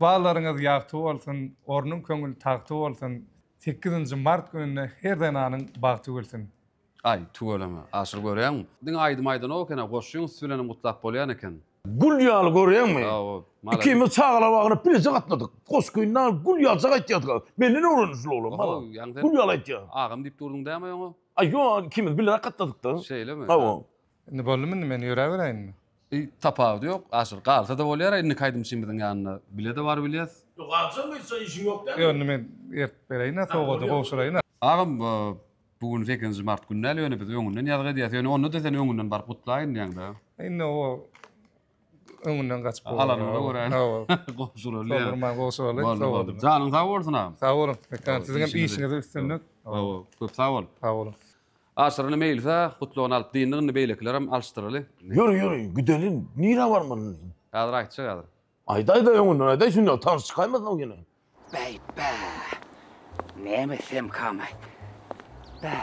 Ykballaryňyz ýagty bolsun, ornuň köňül tagty bolsun. Sekizinji mart gününde her zenanyň bagty gülsün. Aý, tüweleme, Aşyr görýäňmi? Diňe aýdym aýdanok eken-ä, goşgyň üsti bilenem gutlap bolýan eken. Gül ýaly, görýäňmi? Ikimiz çagalar bagyna bileje gatnadyk. Goşgyny dagy gül ýaljak aýtýardyk-a. Menden öwrendi şul oglan, maraz. Gül ýaly aýtýar. Agam diýip durduň dämi oňa? Aý, ýok, ikimiz bileräk gatnadyk-da. Şeýlemi? Hawa. Indi boldumy indi men ýöräberäýinmi. Eý tapawudy ýok aşyr galsada bolýara indiki aýdym üçin biziň ýanynda bilede bar bilýas. Ýok galsaň ýitse işiň ýok däl. Ýok indi men eritip beräýina sowgady gowşuraýyn. Agam bu gün sekizinji mart gün däl ýöne biz öňünden ýazgy edýäs ýöne ondada sen öňünden baryp gutlaýyn diýäň dä. Indi o öňünden gaçyp bolar. Alanymyza görä gowşuraly ýa. Soldurman gowşuraly sowgady. Janyň sag bolsun agam. Sag boluň Mekan siziňem işiňizde üstünlik. Sag bol köp sag bol. Sag boluň. Aşyryny meýilsa, gutlagyny alyp dyndy, indi beýlekilerem alyşdyraly. Ýör, ýör, gideliň, nirä barmalyny? Häzir aýtjak, häzir. Aýdaý-da, öňünden aýdaý, şunda tans çykaýmasyn ol ýene. Bäý-bä! Näme etsemkam-aý? Bä!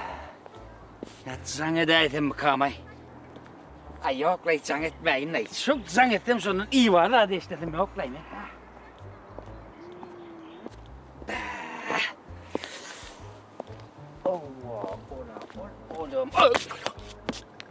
Nät jaň edäýsemmikam-aý? Aý, ýok-laý, jaň etmäýin-laý. Şu jaň etsem, şondan iýba zat eşdesim ýok-laý men. Bä!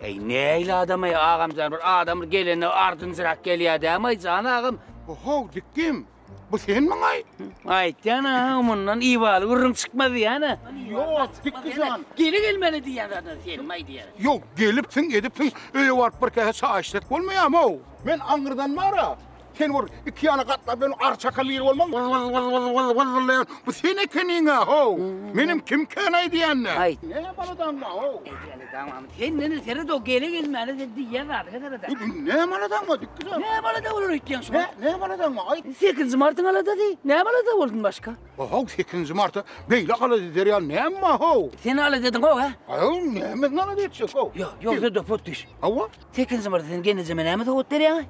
Eý, näýli adam eý, agam jan, bir adam bir gelende ardynjyrak gelýär dämi eý, jan agam? Ho-how, dikgim, bu senmiň-aý? Aýtýan-a, mundan ibaly gürrüň çykmaz diýýän-ä. Ýok, dikgi jan. Gele gelmeli diýýän zadyň senmi-aý diýýän. Ýok, gelipsiň, edipsiň, öýe baryp bir käse çaý içsek bolmaýarmy-ow? Men aňyrdan bar-a, Sen gör, iki ýana gatlap ýören ary çakal biri bolmaň. Wyz, wyz, wyz, wyz, wyz, wyz wyzlaýan. Bu sen ekeniň-ä, how! Meniň kim kän aýdýan-a? Aýt. Näme maladaňmy, how? Eýjäni daňam. Sen meni seret-ow, gele-gelmäne sen diýýän zady heserede. Bu näme maladaňmy, dikgizem? Näme malada bolar öýtýäň şo? Nä, näme maladaňmy, aýt? Sekizinji martyň aladasy. Näme malada boldun başga? How, sekizinji marta beýle alada eder ýaly näme-ä, how? Sen alada ediň, how-a? How, nämesini alada etjek, how? Ýok, ýogsa-da potdyş. Hawa. Sekizinji marta sen gelneje men näme sowgat berýäň-a?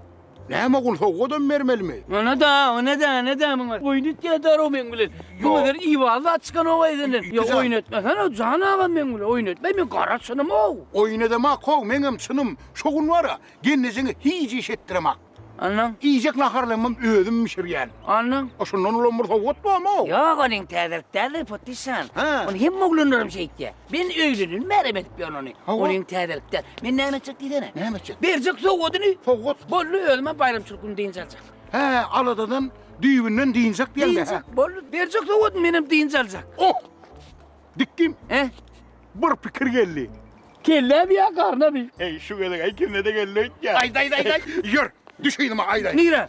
Näme gul sowgadam bermelimi. Onada onada onada muňa oýun etýär daro meň bilen ýöne bir iwal zat çykanok eýsenden ýa oýun etmesen o jan agam meň bilen oýun etme men gara çynym ow. Oýun edemak how meňem çynym şo gün bara gelnejeňe hic iş etdiremak. Anlaň. Iýjek naharlymam özüm bişirýän. Anlaň. O şundan ulam bir sowgat bamy. Ýok onuň täzelik däldir potişan. Ony hemme oglanlaram şeýtýär. Men öýleneli märem edip ýörün ony. Hawa. Ol iň täzelik däl. Men näme etjek diýsene? Näme etjek? Berjek sowgadyny. Sowgat. Boldy, özümem baýramçylyk güni dynç aljak. Hä, aladadan, düýbünden dynjak diýeň-dä, hä? Dynjak, boldy. Berjek sowgadyny menem dynç aljak. Oh! Dikdim. He? Bir pikir geldi. Kellämi ýa garnamy? Eý, şu gezek-ä ikisine-de geldi öýtýän. Aýt, aýt, aýt, aýt. Ýör, düş yzyma, aýdaýyn. Nirä?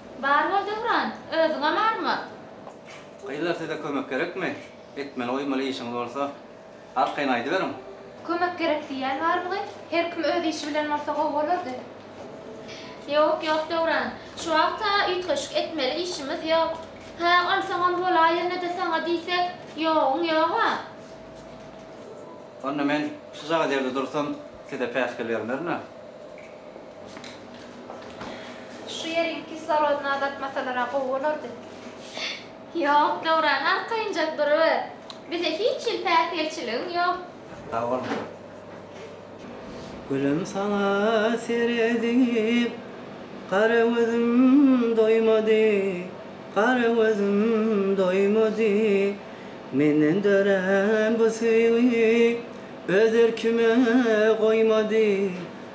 Bar bol Döwran, özüňe marmyr. Gyzlar size kömek gerekmi? Etmeli goýmaly işiňiz bolsa arkaýyn aýdyberiň. Kömek gerek diýýän barmygy? Her kim öz işi bilen bolsa gowy bolardy. Ýok, ýok Döwran. Şu wagta üýtgeşik etmeli işimiz ýok. Hä, onsoňam bolaý ýöne-de saňa diýsek, ýoguň ýog-a. Onda men şujagaz ýerde dursam size päsgel bermerin-ä. Şu ýeriň kislorodyny azaltmasalar-a gowy bolardy. Ýok, Döwran, arkaýynjak duruber. Bize hiç hili päsgelçiligiň ýok. Sag bol, Meret. Gülüm, saňa seredip, gara gözüm doýmady, gara gözüm doýmady. Menden dörän bu söýgi öz erkime goýmady.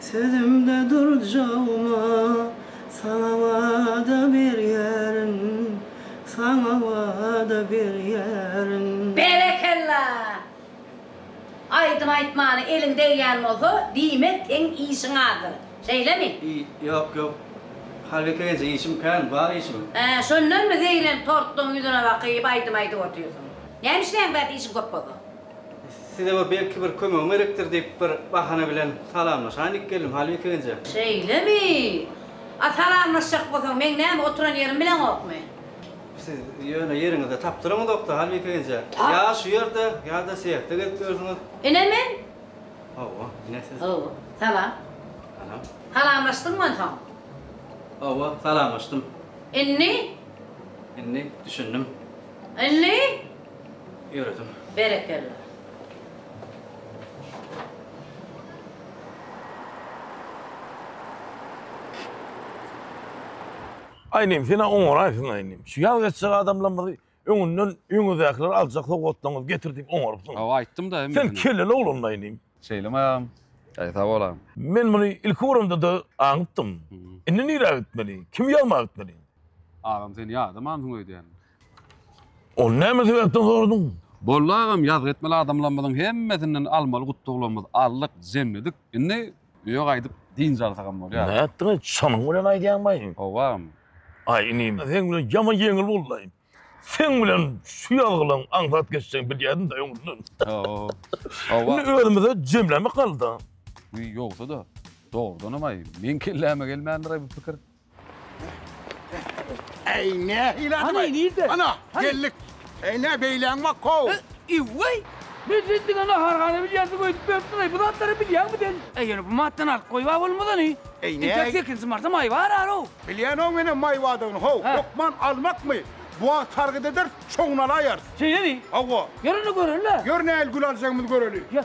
Sözümde durjagma, saňa wada berýärin, saňa wada berýärin. Berekella! Aýdym aýtmana eliň degýän bolsa, diýmek seň işiň azdyr. Şeýlemi? I, ýok, ýok. Halyka eje, işim kän, bar işim. Hä, şondanmy zeýrenip tortlaň ýüzüne bakyp aýdym aýdyp otyrsyň? Näme işleýäň bärde işiň köp bolsa? Size bir belki bir kömegim gerekdir diýip bir bahana bilen salamlaşaýyn diýip geldim, Halbek egenje. Şeýlemi? A salamlaşjak bolsaň, meň näme oturan ýerim bileňokmy? Siz ýöne ýeriňizde tapdyryňyzok-da, Halbek egenje. Tap. Ýa şu ýerde, ýa-da sehekde gezip ýörsüňiz. Ine men. Hawa, ine siz. Hawa, salam. Salam. Salamlaşdyňmy onsoň? Hawa, salamlaşdym. Indi? Indi düşündim. Indi? Ýöredim. Berekella. Aý inim sena oňaraýsyň aý inim. Şu ýaz geçjek adamlarymyzy öňünden öňüňizdäkiler aljak sowgatlaryňyzy getir diýip oňarypsyň. Hawa aýtdym da. Sen kelleli oglandy aý inim. Şeýlemi agam? Aý sag bol agam. Men muny ilki göremde-de aňypdym. Indi nirä gitmeli? Kimi ýazmaga gitmeli? Agam sen ýadamansyň öýdýän. Ol näme sebäpden soradyň? Boldy agam ýazgy etmeli adamlarymyzyň hemmesinden almaly gutlaglarymyz aldyk jemledik indi öýe gaýdyp dynç alsagam bolýar. Nätdiňiz çynyň bilen aýdýaňmaý? Howwa agam. Aý inim seň bilen ýaman ýeňil boldy. Seň bilen şu ýazgylaň aňsat geçjegini bilýädim daý öňünden. Howwa. Indi özümize jemlemek galdy. Wiý ýogsa-da dogrudanam aý meň kelläme gelmändir-aý bu pikir. Ey ne hile Ana, bay. nirde? Ana Hadi. geldik. Ey ne beylen bak kov. Iwway! Men sen diňe nahar gana bilýänsiň öýdüp beripsiň aý. Bu zatlary bilýäňmi sen? Ey ýöne bu matdan alyp goýba bolmazany. Ey ne? Entek sekinji marta maý bar aro. Bilýän o menen may badygyny hov. Ha. Hökman almakmy? Bu wagt sargyt ederis, şoňuny alaýarys. Şeýlemi? Hawa. Ýör indi göreli. Ýör nähili gül aljagymyzy göreli. Ýör.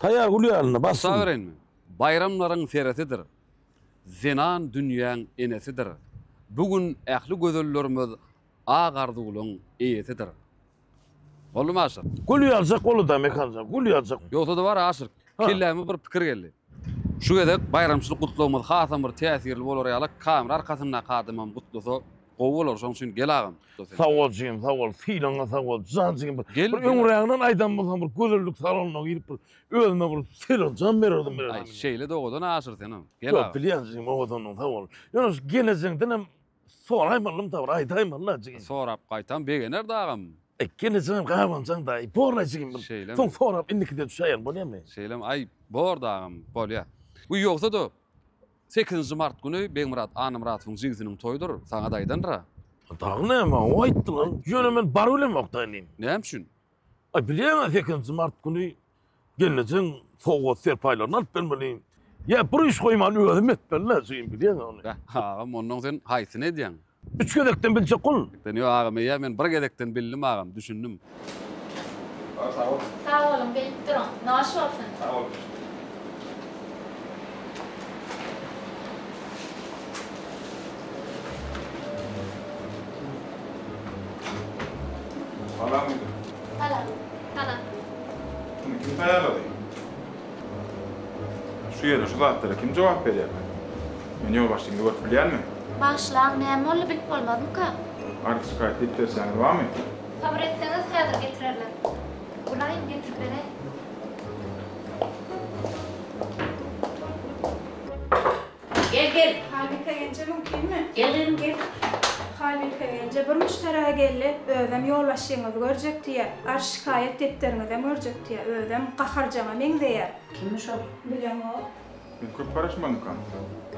Taýýar gül ýalyny bas şuny. Gutaberyn, baýramlaryň seresidir, Zenan dünýäň enesidir, Bu gün ähli gözellerimiz Ak arzuwlaň eýesidir. Boldumy aşyk. Gül ýazjak bolduda Mekanjan, gül ýazjak. Ýogsa-da bar aşyk. Kelläme bir pikir geldi. Şu gezek baýramçylyk gutlagymyz hasam bir täsirli bolar ýaly, kamera arkasyndaky adamam gutlasa gowy bolar. Şonuň üçin gel agam. Sag bol jigim, sag bol. Sylaňa sag bol. Jan jigim bir. Gel. Bir öňräginden aýdan bolsaň bir gözellik salonyna girip bir özüme bir sylak jan bererdim bilerdim. Aý, şeýle-de owadan aşyr senem. Gel agam. Ýok, bilýän jigim owadandygyňy sag bol. Ýöne şu gelejeňdenem Soraýmalymda bir aýdaýmala jigim. Sorap gaýtam begenerd agam. Gel jigim gabanjaň daýy. Borla jigim bir. Şeýlemi. Soň sorap indikide düşäýelim bolýamy? Şeýlemi aý borda agam bolýa. Bu ýogsada sekizinji mart güni Begmyrat Annamyradowyň jigisiniň toýudyr saňada aýdandyra. Dagy näme o aýtdylar. Ýöne men barybilemok daýy indi. Näme üçin? Aý bilýäňä sekizinji mart güni gelnejeň sowgat serpaýlaryny alyp bermeli. Ýa bir iş goýman özüm etmeli-le, jigim, bilýäňmi ony? Beh, agam, onnoň sen haýsyny edýäň? Üç gezekden biljek ol. Dönýä, agam, eýýäm men bir gezekden bildim, agam, düşündim. Agam, sag boluň. Sag boluň, bilip duruň. Noş bolsun. Sag boluň. Salam, ýigit. Salam. Salam. Muny kim taýýarlady? Şu ýerde şu zatlara kim jogap berýär? Men ýolbaşçymyzy görüp bilýärmi? Bagyşlaň, näme boldy bilip bolmazmyka? Arz şikaýat edip berşäňiz barmy? Sabyr etseňiz häzir getirerler. Bolaýyn getirip beräý. Gel gel. Haýbike gelje mümkinmi? Gel gyzym gel. Haýbike gelje bir müşderä geldi, özem ýolbaşçyňyzy görjek diýýär. Arz şikaýat depderiňizem görjek diýýär. Özem gaharjaňa meňzeýär. Kimmiş ol? Bilemok. Sen köp garaşmaňkam?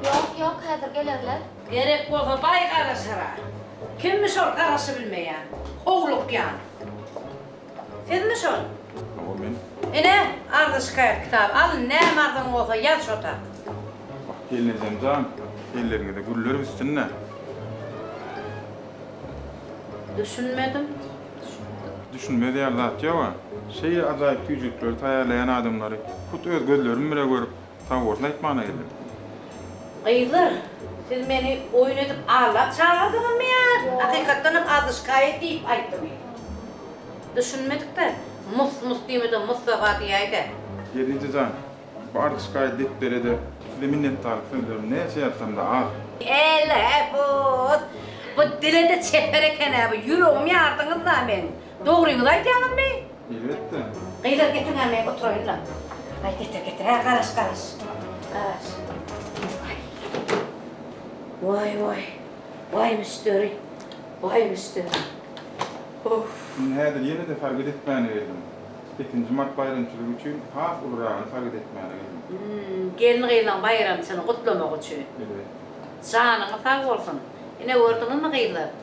Ýok, ýok, häzir gelerler. Gerek bolsa baý garaşar-a. Kimmiş ol garaşybilmeýän, howlukýan. Sizmi şol? Hawa men. Ine, arza-şikaýat kitaby. Al, näme arzaň bolsa ýaz şota. Wah, gelin ejem jan, elleriňize güller üstünde. Düşünmedim. Düşünmez ýaly zat ýog-a. Şeýle ajaýyp tüýjükleri taýýarlaýan adamlary hut öz gözlerim bile görüp, Sag bolsun aýtmana geldim. Gyzlar siz meni oýun edip allap çagyrdyňyzmy ýa hakykatdanam azyşkaýa diýip aýtdymy? Düşünmedikde mus mus diýmede mussaba diýäýdä. Ýedinji jan, bu azyşkaýa depderede size minnetdarlyk sözlerim näçe ýazsamda az. Elä buz! Bu dilede çeper eken-ä bu, ýüregimi ýardyňyz-la meň. Dogryňyzy aýdýaňyzmy? Elbetde. Gyzlar getirňämi oturaýynlam. Aý getir getir hä garaş garaş. Garaş. Waý waý. Waý müşderi. Waý müşderi. Uff. Indi häzir ýene-de sargyt etmäne geldim. Sekinji mart baýramçylygy üçin has uluryragyny sargyt etmäne geldim. Hum gelin gyzlaň baýramçyny gutlamak üçin. Elbetde. Janyňyz sag bolsun. Ine gördüňizmi gyzlar.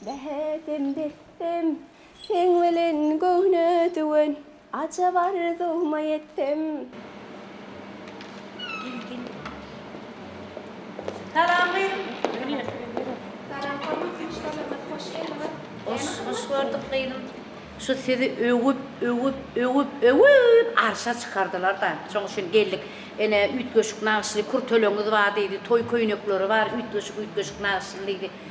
Bähbim dessem, seň bilen göwne düwen, Ajap arzuwma ýetsem. Gel, gel. Salam gyzym. Salam, hormatly ýurtdaşlarymyz, hoş geldiňiz. Hoş, hoş gördük gyzym. Şu sizi öwüp, öwüp, öwüp, öwüp arşa çykardylar-da, şoň üçin geldik. Ene, üýtgeşik nagyşly kürteleňiz bar diýdi, toý köýnekleri bar, üýtgeşik, üýtgeşik nagyşly diýdi.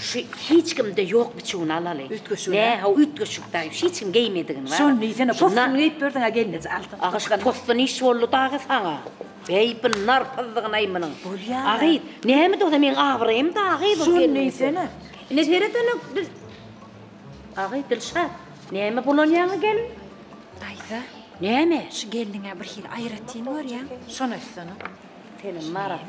Şu hiç kimde ýok biçüwini alaly. Üýtgeşik. Nä, haw üýtgeşik daýy. Hiç kim geýmedigini bar. Şony diýsene, postuny geýip berdiň a gelneje altyn. Aga şu postu niş boldy dagy saňa. Beý bu nar pyzzygynaý munyň. Bolýar. A gyz, näme dogry meň abraýym dagy bu gelneje. Şony diýsene. Ine seret ene dil. A gyz Dilşat, näme bulanýaňy gelin? Daýza. Näme? Şu gelniňä birhili aýratyn görýäň. Şony aýtsana. Senem Marat.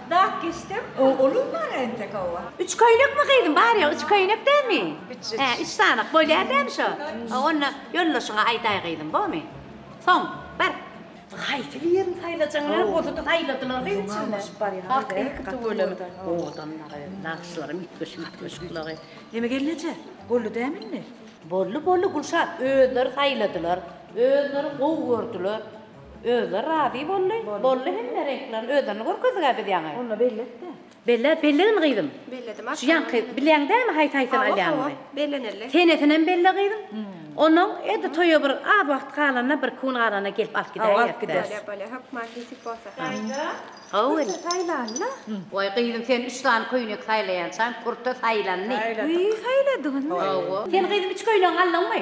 Dak geçsem ogulym bar entek owa. Üç köýnekmi gyzym bar ýa üç köýnek dämi? Üç üç. Hä üç sanyk bolýa dämi şo? Hä onda ýoldaşyňa aýdaý gyzym bomy? Soň bar. Haýsy birini saýlajaňlar bolsady saýladylar gyz içinde. Hak iki tüweleme owadan dagy nagyşlaram üýtgeşik üýtgeşik bulagy. Neme gelneje boldy dämi indi? Boldy boldy Gülşat özleri saýladylar özleri gowy gördüler. Özleri razy boldy. Boldy hemme reňklerini özlerini görkezdiga biz ýaňy. Onda belletde. Belle, bellegin gyzym. Belledim Şu ýaňky bilýäň dämi haýsy haýsyny alýanyny? Belleneli. Senesinem belle gyzym. Onnoň edil toýa bir az wagt galanda birki gün galanda gelip alyp gidäýerdi. Alyp gider. Bolýa bolýa hökman nesip bolsa. Saýla. Gowuly. Saýlanla. Waý gyzym sen üç sany köýnek saýlaýançaň purta saýlandy. Saýladyk. Saýladygyny. Hawa. Sen gyzym üç köýnegiňi aldyňmy?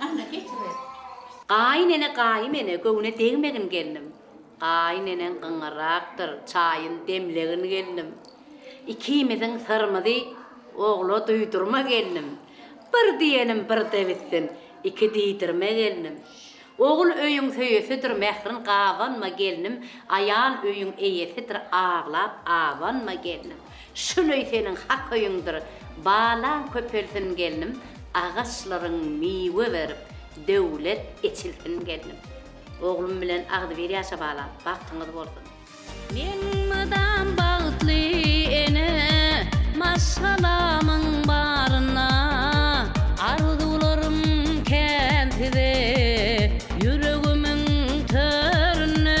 Anna geçiber. Gaýyn ene gaýym ene göwne degmegin gelnim gaýyn eneň gyňyrakdyr çaýyn demlegin gelnim ikimiziň syrymyzy ogla duýdurma gelnim bir diýenim birde bitsin iki diýdirme gelnim ogul öýüň söýesidir mährin gabanma gelnim aýal öýüň eýesidir aglap abanma gelnim. Şuleý seniň hak öýüňdir Balaň köpelsin gelnim Agaçlaryň miwe berip Döwlet eçilsin gelnim Oglum bilen agzybir ýaşa balam Bagtyňyz bolsun. Men mydam bagtly ene Maşgalamyň baryna Arzuwlarym kän size Ýüregimiň töründe.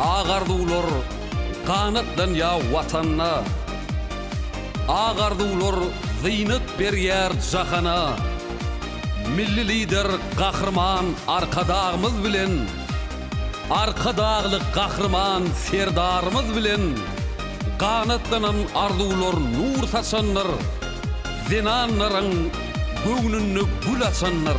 Ak arzuwlar ganatlanýa Watana, Ak arzuwlar zynat berýär jahana. Milli Lider Gahryman Arkadagymyz bilen, Arkadagly Gahryman Serdarymyz bilen ganatlanan arzuwlar nur saçandyr, zenanlaryň göwnünde gül açandyr.